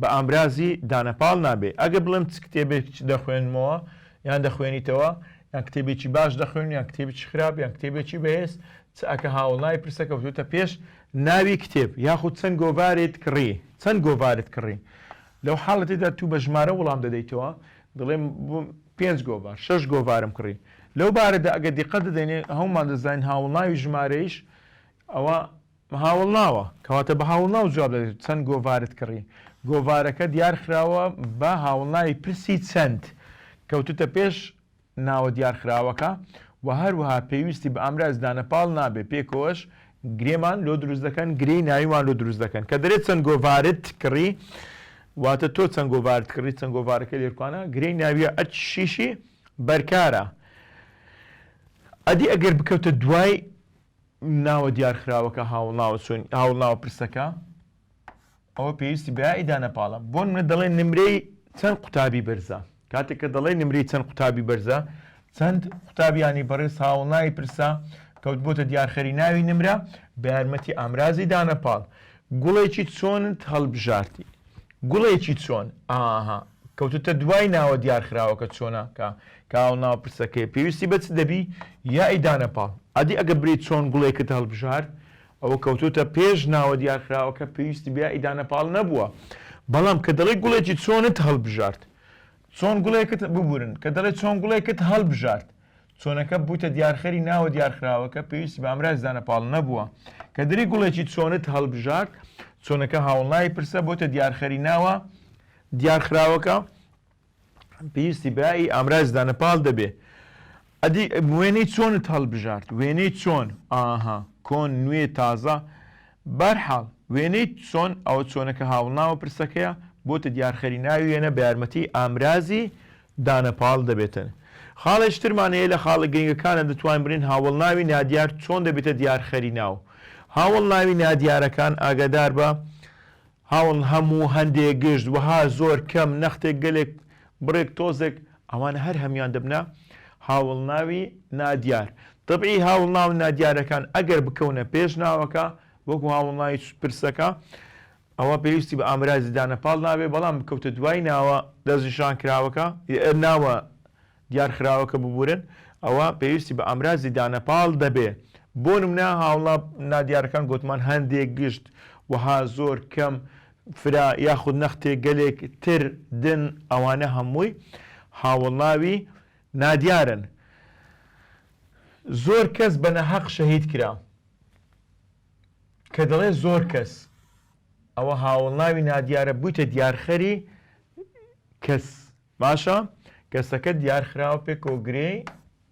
A: بە ئامرازی دانەپاڵ نابێ. ئەگەر بڵێم چ کتێبێک دەخوێنمەوە یان دەخوێنیتەوە، یان کتێبێکی باش دەخوێنم یان کتێبێکی خراپ یان کتێبێکی بەهێز، چ ئەکە هاوەڵناوی پرسە کەوتووتە پێش ناوی کتێب یاخود چەند گۆڤارێت کڕی، چەند گۆڤارت کڕی؟ لەو حاڵەتەدا تو بە ژمارە وڵام دەدەیتەوە، دەڵێم پێنج گۆڤار، شەش گۆڤارم کڕی. لەو بارەدا ئەگەر دیقەت دەدەینێ، هەموومان دەزانین هاوەڵناوی ژمارەیش ئەوە، بەهاوڵناوە کەواتە بە هاوڵناو جواب دەدەیت چەند گۆڤارت کڕی گۆڤارەکە دیار خراوە بە هاوڵناوی پرسی چەند کەوتوتە پێش ناوە دیار خراوەکە وە هەروەها پێویستی بە ئامراز دانە پاڵ نابێت پێکەوەش گرێمان لۆ دروست دەکەن گرێی ناویمان لۆ دروست دەکەن کە دەرێت چەند گۆڤارت کڕی واتە تۆ چەند گۆڤارت کڕی چەند گۆڤارەکە لێرکوانە گرێی ناویە ئەچ شیشی بەرکارە ئەدی ئەگەر بکەوتە دوای ناوە دیارخراوەکە هاوڵناوە چۆن هاوڵناوە پرسەکە ئەوە پێویستی بە یائیدا نەپاڵە بۆ نمرە دەڵێ نمرەی چەند قوتابی بەرزە کاتێک کە دەڵێ نمرەی چەند قوتابی بەرزە چەند قوتابیانی بەڕێز هاوڵناوی پرسە کەوتبووتە دیارخەری ناوی نمرە بە یارمەتی ئامرازی دانەپاڵ گوڵێکی چۆنت هەڵبژاردی گوڵێکی چۆن؟ ئاها کەوتوتە دوای ناوە دیار خراوەکە چۆنە کە کاو ناو پرسەکەی پێویستی بە چ دەبی یائی دانە پاڵ ئەدی ئەگە بری چۆن گوڵێکت هەڵبژارد ئەوە کەوتوتە پێش ناوە دیار خراوەکە پێویستی بە یائی دانە پاڵ نەبووە بەڵام کە دەڵێ گوڵێکی چۆنت هەڵبژارد چۆن گوڵێکت ببورن کە دەڵێ چۆن گوڵێکت هەڵبژارد چۆنەکە بووتە دیارخەری ناوە دیارخراوەکە پێویستی بە ئامرازی دانەپاڵ نەبووە کە دری گوڵێکی چۆنت هەڵبژارد چۆنەکە هاوڵناوی پرسە بۆتە دیارخەری ناوە دیارخراوەکە پێویستی بایی ئامرازی دانەپاڵ دەبێ ئەدی وێنەی چۆنت هەڵبژارد وێنەی چۆن ئاها کۆن نوێ تازە بارحاڵ وێنەی چۆن ئەو چۆنەکە هاوڵناوە پرسەکەیە بۆتە دیارخەری ناوی وێنە بە یارمەتی ئامرازی دانە پاڵ دەبێتن. خاڵێچ ترمان هەیە لە خاڵە گرنگەکانە دەتوانین بڵێین هاوەڵناوی نادیار چۆن دەبێتە دیارخەری ناو هاوەڵناوی نادیارەکان ئاگادار بە هاوەڵ هەموو هەندێ گشت وەها زۆر کەم نەختێک گەلێک بڕێک تۆزێک ئەوانە هەر هەموان دەبنە هاوەڵناوی نادیار تەبعی هاوڵناو نادیارەکان ئەگەر بکەونە پێش ناوەکە وەکو هاوڵناوی پرسەکە ئەوا پێویستی بە ئامرازی دانە پاڵ نابێت، بەڵام بکەوتە دوای ناوە دەستنیشانکراوەکە، ناوە دیارخراوەکە ببورن، ئەوا پێویستی بە ئامرازی دانە پاڵ دەبێ، بۆ نمونە هاوڵا نادیارەکان گۆتمان هەندێک گشت، وەها، زۆر، کەم، فرە، یاخود نەختێ، گەلێک، تر، دن، ئەوانە هەمووی هاوڵناوی نادیارن. زۆر کەس بە ناهەق شەهید کرا. کە دەڵێ زۆر کەس ئەوە هاوەڵناوی نادیارە بوویتە دیارخەری کەس باشە کەسەکە دیارخراوە پێ کۆگرێی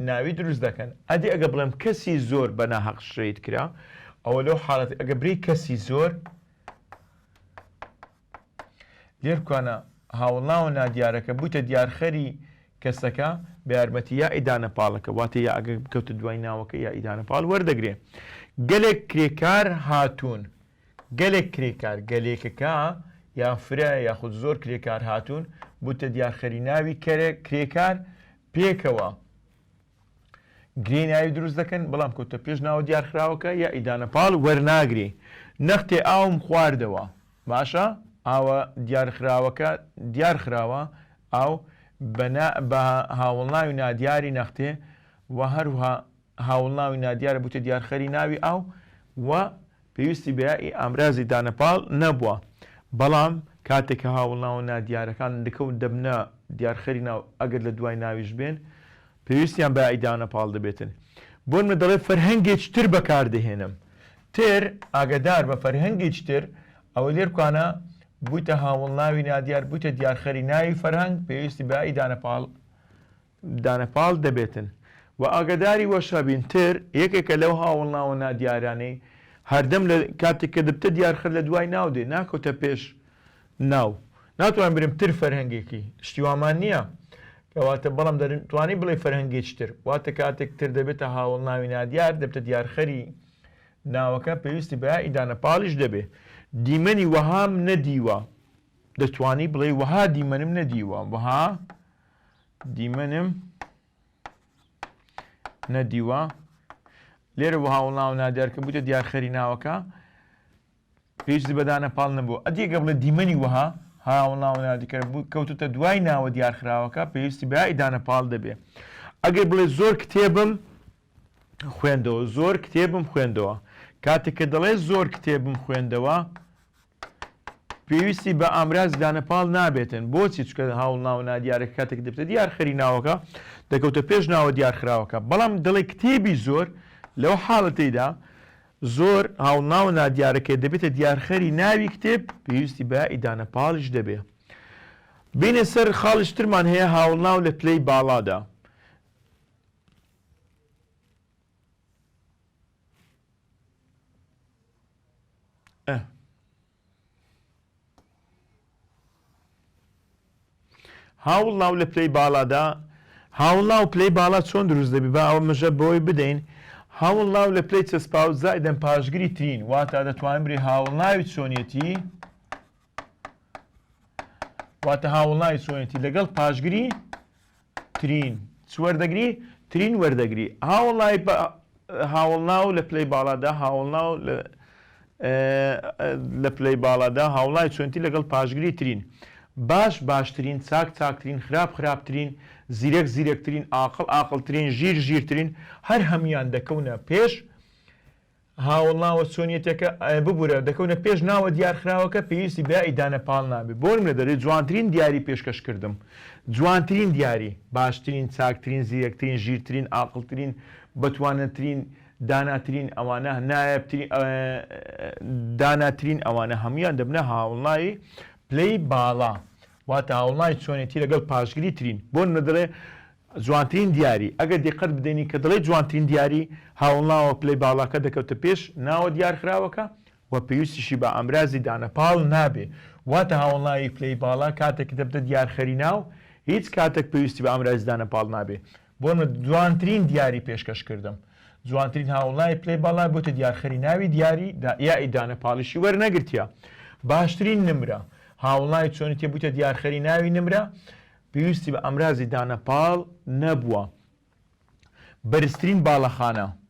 A: ناوی دروست دەکەن ئەدی ئەگە بڵێم کەسی زۆر بە ناهەق شەید کرا ئەوە لەو حاڵەت ئەگە بری کەسی زۆر لێرکوانە هاوڵاوە نادیارەکە بوویتە دیارخەری کەسەکە بە یارمەتی یا ئیدانە پاڵەکە واتە یا ئەگەر بکەوتە دوای ناوەکە یا ئیدانە پاڵ وەردەگرێ گەلێک کرێکار هاتوون گەلێک کرێکار گەلێکەکە یا فرە یاخود زۆر کرێکار هاتوون بووتە دیارخەری ناوی کەرە کرێکار پێکەوە گرێی ناوی دروست دەکەن بەڵام کەوتە پێش ناوە دیارخراوەکە یا ئیدانە پاڵ وەرناگرێ نەختێ ئاوم خواردەوە باشە ئاوە دیارخراوەکە دیارخراوە ئاو بە هاوڵناوی نادیاری نەختێ و هەروها هاوڵناوی نادیارە بوتە دیارخەری ناوی ئاو و پێویستی بە یائی ئامرازی دانەپاڵ نەبووە، بەڵام کاتێک کە هاوڵناوە نادیارەکان لکەو دەبنە دیارخەری ناو ئەگەر لە دوای ناویش بێن پێویستیان بە یائی دانەپاڵ دەبێتن بۆ نمونە دەڵێ فەرهەنگێچ تر بەکار دەهێنم تر ئاگەدار بە فەرهەنگێچ تر ئەوە لێرکانە بویتە هاوڵناوی نادیار بویتە دیارخەری ناوی فەرهەنگ پێویستی بە یائی دانەپاڵ دانە پاڵ دەبێتن و ئاگەداری وەشابین تر یەکێکە لەو هاوڵناوە نادیارانەی هەردەم لە کاتێک کە دبتە دیار خر لە دوای ناو دێ ناکەوتە پێش ناو ناتوانین برێن تر فەرهەنگێکی شتی وامان نییە کەواتە بەڵام دەرن توانی بڵێ فەرهەنگێکی تر واتە کاتێک تر دەبێتە هاوڵناوی نادیار دەبتە دیارخەری ناوەکە پێویستی بە ئیدانە پاڵیش دەبێ دیمەنی وەهام نەدیوە دەتوانی بڵێ وەها دیمەنم نەدیوە وەها دیمەنم نەدیوە لێرە بۆ هاوڵناو نادیار کە بووتە دیارخەری ناوەکە هیچ بەدانە پاڵ نەبوو ئەدیگە بڵێ دیمەنی وەها هاوڵناو نادیکە بوو کەوتتە دوای ناوە دیارخراوەکە پێویستی بە ئیدانە پاڵ دەبێ ئەگەر بڵێ زۆر کتێبم خوێندەوە زۆر کتێبم خوێندەوە کاتێک کە دەڵێ زۆر کتێبم خوێندەوە پێویستی بە ئامراز دانە پاڵ نابێتن بۆچی چکە هاوڵ ناوە نادیارە کاتێک دەبتە دیار خەری ناوەکە دەکەوتە پێش ناوە دیارخراوەکە بەڵام دەڵێ کتێبی زۆر لەو حاڵەتەیدا زۆر هاوڵناو نادیارەکە دەبێتە دیارخەری ناوی کتێب پێویستی بە ئیدانە پاڵش دەبێ بینە سەر خاڵشترمان هەیە هاوڵناو لە پلەی باڵادا ئە. هاوڵناو لە پلەی باڵادا هاوڵناو پلەی باڵا چۆن دروست دەبی با ئەوە مژە بۆی بدەین هاوڵناو لە پلەی چەسپاو زایدەم پاشگری ترین واتا دەتوانین بری هاوڵناوی چۆنیەتی واتە هاوڵناوی چۆنیەتی لەگەڵ پاشگری ترین چ وەردەگری؟ ترین وەردەگری هاوڵای بە هاوڵناو لە پلەی باڵادا هاوڵناو لە لە پلەی باڵادا هاوڵای چۆنتی لەگەڵ پاشگری ترین باش باشترین چاک چاکترین خراپ خراپترین زیرەک زیرەکترین ئاقڵ ئاقڵترین ژیر ژیرترین هەر هەموویان دەکەونە پێش هاوڵناوە چۆنیەتەکە ئەە ببورە دەکەونە پێش ناوە دیارخراوەکە پێویستی بە ئیدانە پاڵ نابێت بۆنم لە دەرێ جوانترین دیاری پێشکەش کردم جوانترین دیاری باشترین چاکترین زیرەکترین ژیرترین ئاقڵترین بەتوانەترین داناترین ئەوانە نایەبترین داناترین ئەوانە هەمویان دەبنە هاوڵناوی پلەی باڵا واتە هاوڵنای چۆنێتی لەگەڵ پاشگری ترین بۆن مەدەڵێ جوانترین دیاری ئەگەر دیقەت بدەینی کە دەڵێ جوانترین دیاری هاوڵناوە پلەی باڵاکە دەکەوتە پێش ناوە دیارخراوەکە و پێویستیشی بە ئامرازی دانە پاڵ نابێ واتە هاوڵناوی پلەی باڵا کاتێک دەبتە دیارخەری ناو هیچ کاتەک پێویستی بە ئامرازی دانە پاڵ نابێ بۆ نمونە جوانترین دیاری پێشکەش کردم جوانترین هاوڵای پلەی باڵای بۆتە دیارخەری ناوی دیاری یائی دانە پاڵیشی وەرنەگرتیا باشترین نمرە هاوڵای چۆنی تێ بوویتە دیارخەری ناوی نمرە پێویستی بە ئەمرازی دانە پاڵ نەبووە بەرزترین باڵەخانە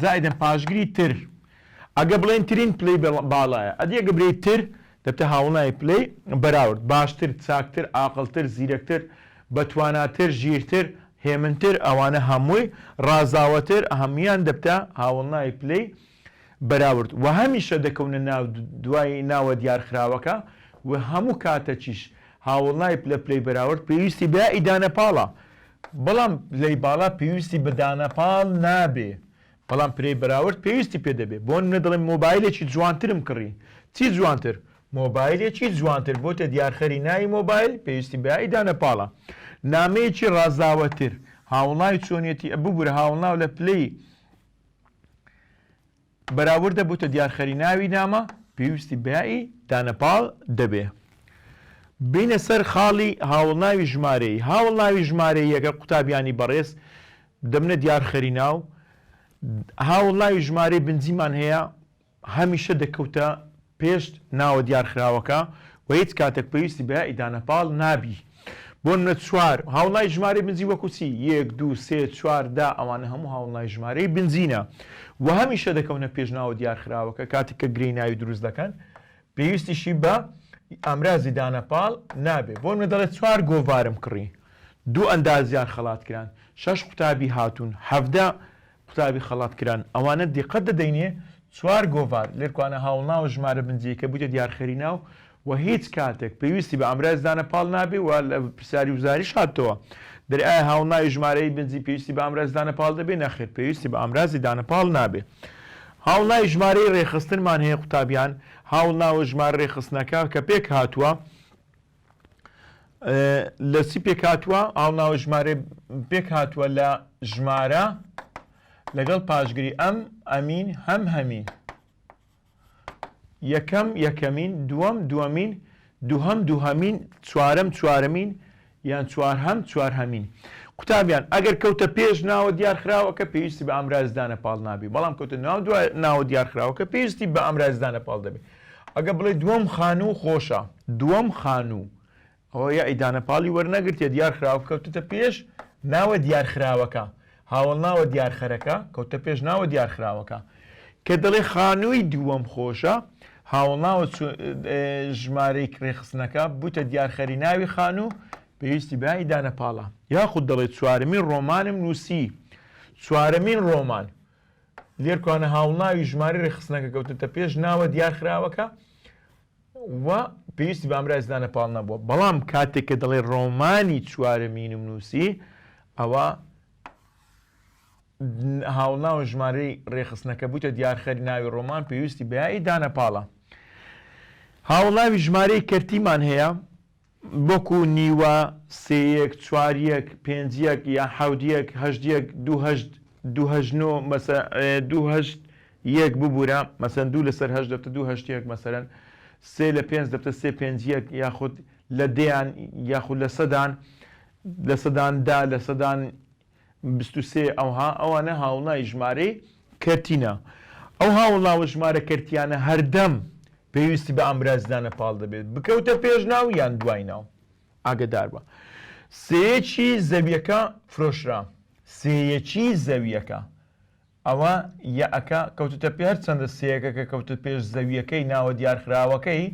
A: زائیدەن پاشگری تر ئەگە بڵێن ترین پلەی باڵایە ئەدی ئەگە برێی تر دەبتە هاوڵنای پلەی بەراورد باشتر چاکتر ئاقڵتر زیرەکتر بەتواناتر ژیرتر هێمنتر ئەوانە هەمووی ڕازاوەتر هەموویان دەبتە هاوڵنای پلەی بەراورد وهەمیشە دەکەونە ناو دوای ناوە دیارخراوەکە وهەموو کاتەکیش هاوڵنای پلە پلەی بەراورد پێویستی بە ئیدانە پاڵە بەڵام پلەی باڵا پێویستی بە دانە پاڵ نابێ بەڵام پلەی بەراورد پێویستی پێ دەبێ بۆ نمونە دەڵێم مۆبایلێکی جوانترم کڕی چی جوانتر مۆبایلێکی جوانتر بۆتە دیارخەری ناوی مۆبایل پێویستی بە ئیدانە پاڵە نامەیەکی ڕازاوەتر هاوڵناوی چۆنیەتی ببورە هاوڵناو لە پلەی بەراوردە بوتە دیارخەری ناوی نامە پێویستی بەیائی دانەپاڵ دەبێ. بینە سەر خاڵی هاوڵناوی ژمارەیی هاوڵناوی ژمارەیی یەکە قوتابیانی بەڕێز دەبنە دیارخەری ناو هاوڵناوی ژمارەی بنجیمان هەیە هەمیشە دەکەوتە پێش ناوە دیارخراوەکە و هیچ کاتەک پێویستی بە یائی دانە پاڵ نابی. بۆ نمونە چوار، هاوڵای ژمارەی بنجی وەکو چی؟ یەک، دوو، سێ، چوار، دە، ئەوانە هەموو هاوڵای ژمارەی بنجینە و هەمیشە دەکەونە پێش ناوە دیارخراوەکە کاتێک کە گرێی ناوی دروست دەکەن پێویستیشی بە ئامرازی دانە پاڵ نابێ. بۆ نمونە دەڵێ چوار گۆڤارم کڕی، دوو ئەندازیار خەڵات کران، شەش قوتابی هاتوون، حەڤدە قوتابی خەڵات کران ئەوانە دیقەت دەدەینێ چوار گۆڤار لێرکوانە هاوڵناو و ژمارە بنجیەکە بویتە دیارخەری ناو و هیچ کاتێک پێویستی بە ئامراز دانە پاڵ نابێ و لە پرسیاری وزاریش هاتتەوە دەرێ ئایا هاوڵناوی ژمارەی بنجی پێویستی بە ئامراز دانە پاڵ دەبێ نەخێر پێویستی بە ئامرازی دانە پاڵ نابێ هاوڵناوی ژمارەی رێخستنمان هەیە قوتابیان هاوڵناو و ژمارە رێخستنەکە کە پێک هاتوە لە چی پێک هاتووە ئاو ناوە ژمارە پێک هاتووە لە ژمارە لەگەڵ پاشگری ئەم ئەمین هەم هەمین یەکەم یەکەمین دووەم دووەمین دووهەم دووهەمین چوارەم چوارەمین یان چوار هەم چوار هەمین قوتابیان ئەگەر کەوتە پێش ناوە دیارخراوەکە پێویستی بە ئامرازدانە پاڵ نابی بەڵام کەوتە ناو دوای ناوە دیارخراوەکە پێویستی بە ئامرازدانە پاڵ دەبێت ئەگەر بڵێ دووەم خانوو خۆشە دووەم خانوو ئەوە یەعی دانە پاڵی وەرنەگرتێ دیار خراوە کەوتتە پێش ناوە دیار خراوەکە هاوڵ ناوە دیار خەرەکە کەوتە پێش ناوە دیار خراوەکە کە دەڵێ خانووی دووەم خۆشە هاوڵ ناوە ژمارەی کرێخستنەکە بوتە دیارخەری ناوی خانوو پێویستی بای دانە پاڵە یاخود دەڵێ چوارمی ڕۆمانم نووسی چوارەمین ڕۆمان لێرکوانە هاوڵناوی ژمارەی ڕێکخستنەکە کەوتۆتە پێش ناوە دیارخراوەکە و پێویستی بە ئامرازی دانە پاڵ نەبووە، بەڵام کاتێک کە دەڵێ ڕۆمانی چوارەمینم نووسی ئەوا هاوڵناوە ژمارەی ڕێکخستنەکە بوویتە دیارخەری ناوی ڕۆمان پێویستی بە یائی دانە پاڵە. هاوڵناوی ژمارەی کەرتیمان هەیە، وەکو نیوە، سێ یەک، چوار یەک، پێنج یەک، یا حەوت یەک، هەشت یەک، دوو هەشت، دوو هەشت نۆ، مەسە، دوو هەشت یەک، ببورە، مەسەن، دوو لەسەر هەشت دەبتە دوو هەشت یەک، مەسەن، سێ لە پێنج دەبتە سێ پێنج یەک، یاخود لە دەیان، یاخود لە سەدان، لە سەدان دە، لە سەدان بیست و سێ، ئەوها ئەوانە هاوڵای ژمارەی کەرتینە. ئەو هاوڵا و ژمارە کەرتییانە هەردەم پێویستی بە ئامرازدانە پاڵ دەبێت، بکەوتە پێش ناو یان دوای ناو. ئاگەدار بە. سێیەکی زەوییەکە فرۆشرا. سێیەکی زەوییەکە. ئەوە یەئەکە کەوتوتە پێ هەر چەندە سێیەکە کە کەوتە پێش زەویەکەی ناوە دیارخراوەکەی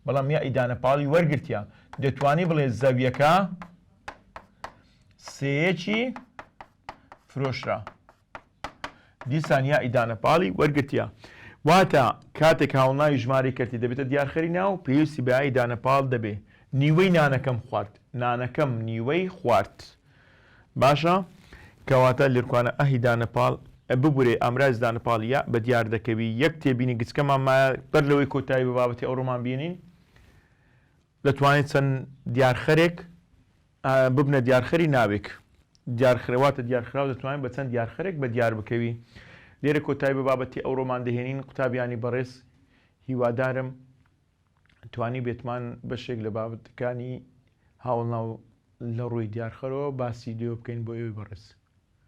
A: بەڵام یەئی دانە پاڵی وەرگرتیە دەتوانی بڵێ زەویەکە سێیەکی فرۆشرا دیسان یەئی دانە پاڵی وەرگرتیە واتە کاتێک هاوڵناوی ژمارەی کەرتی دەبێتە دیارخەری ناو پێویستی بە یەئی دانە پاڵ دەبێ نیوەی نانەکەم خوارد نانەکەم نیوەی خوارد. باشە کەواتە لرکوانە ئه دانە پاڵ ئە ببورەی ئامراز دانە پاڵ یە بە دیار دەکەوی یەک تێبینی گچکەمان مایە بەر لەوەی کۆتایی بە بابەتی ئەوڕۆمان بینین دەتوانێت چەند دیارخەرێک ئە ببنە دیارخەری ناوێک دیارخرەواتە دیارخراو دەتوانین بە چەند دیارخەرێک بە دیار بکەوی لێرە کۆتایی بە بابەتی ئەوڕۆمان دەهێنین قوتابیانی بەڕێز هیوادارم توانیبێتمان بەشێک لە بابەتەکانی هاوڵناو لە ڕووی دیارخەرەوە باسی لێوە بکەین بۆ ئێوەی بەڕێز.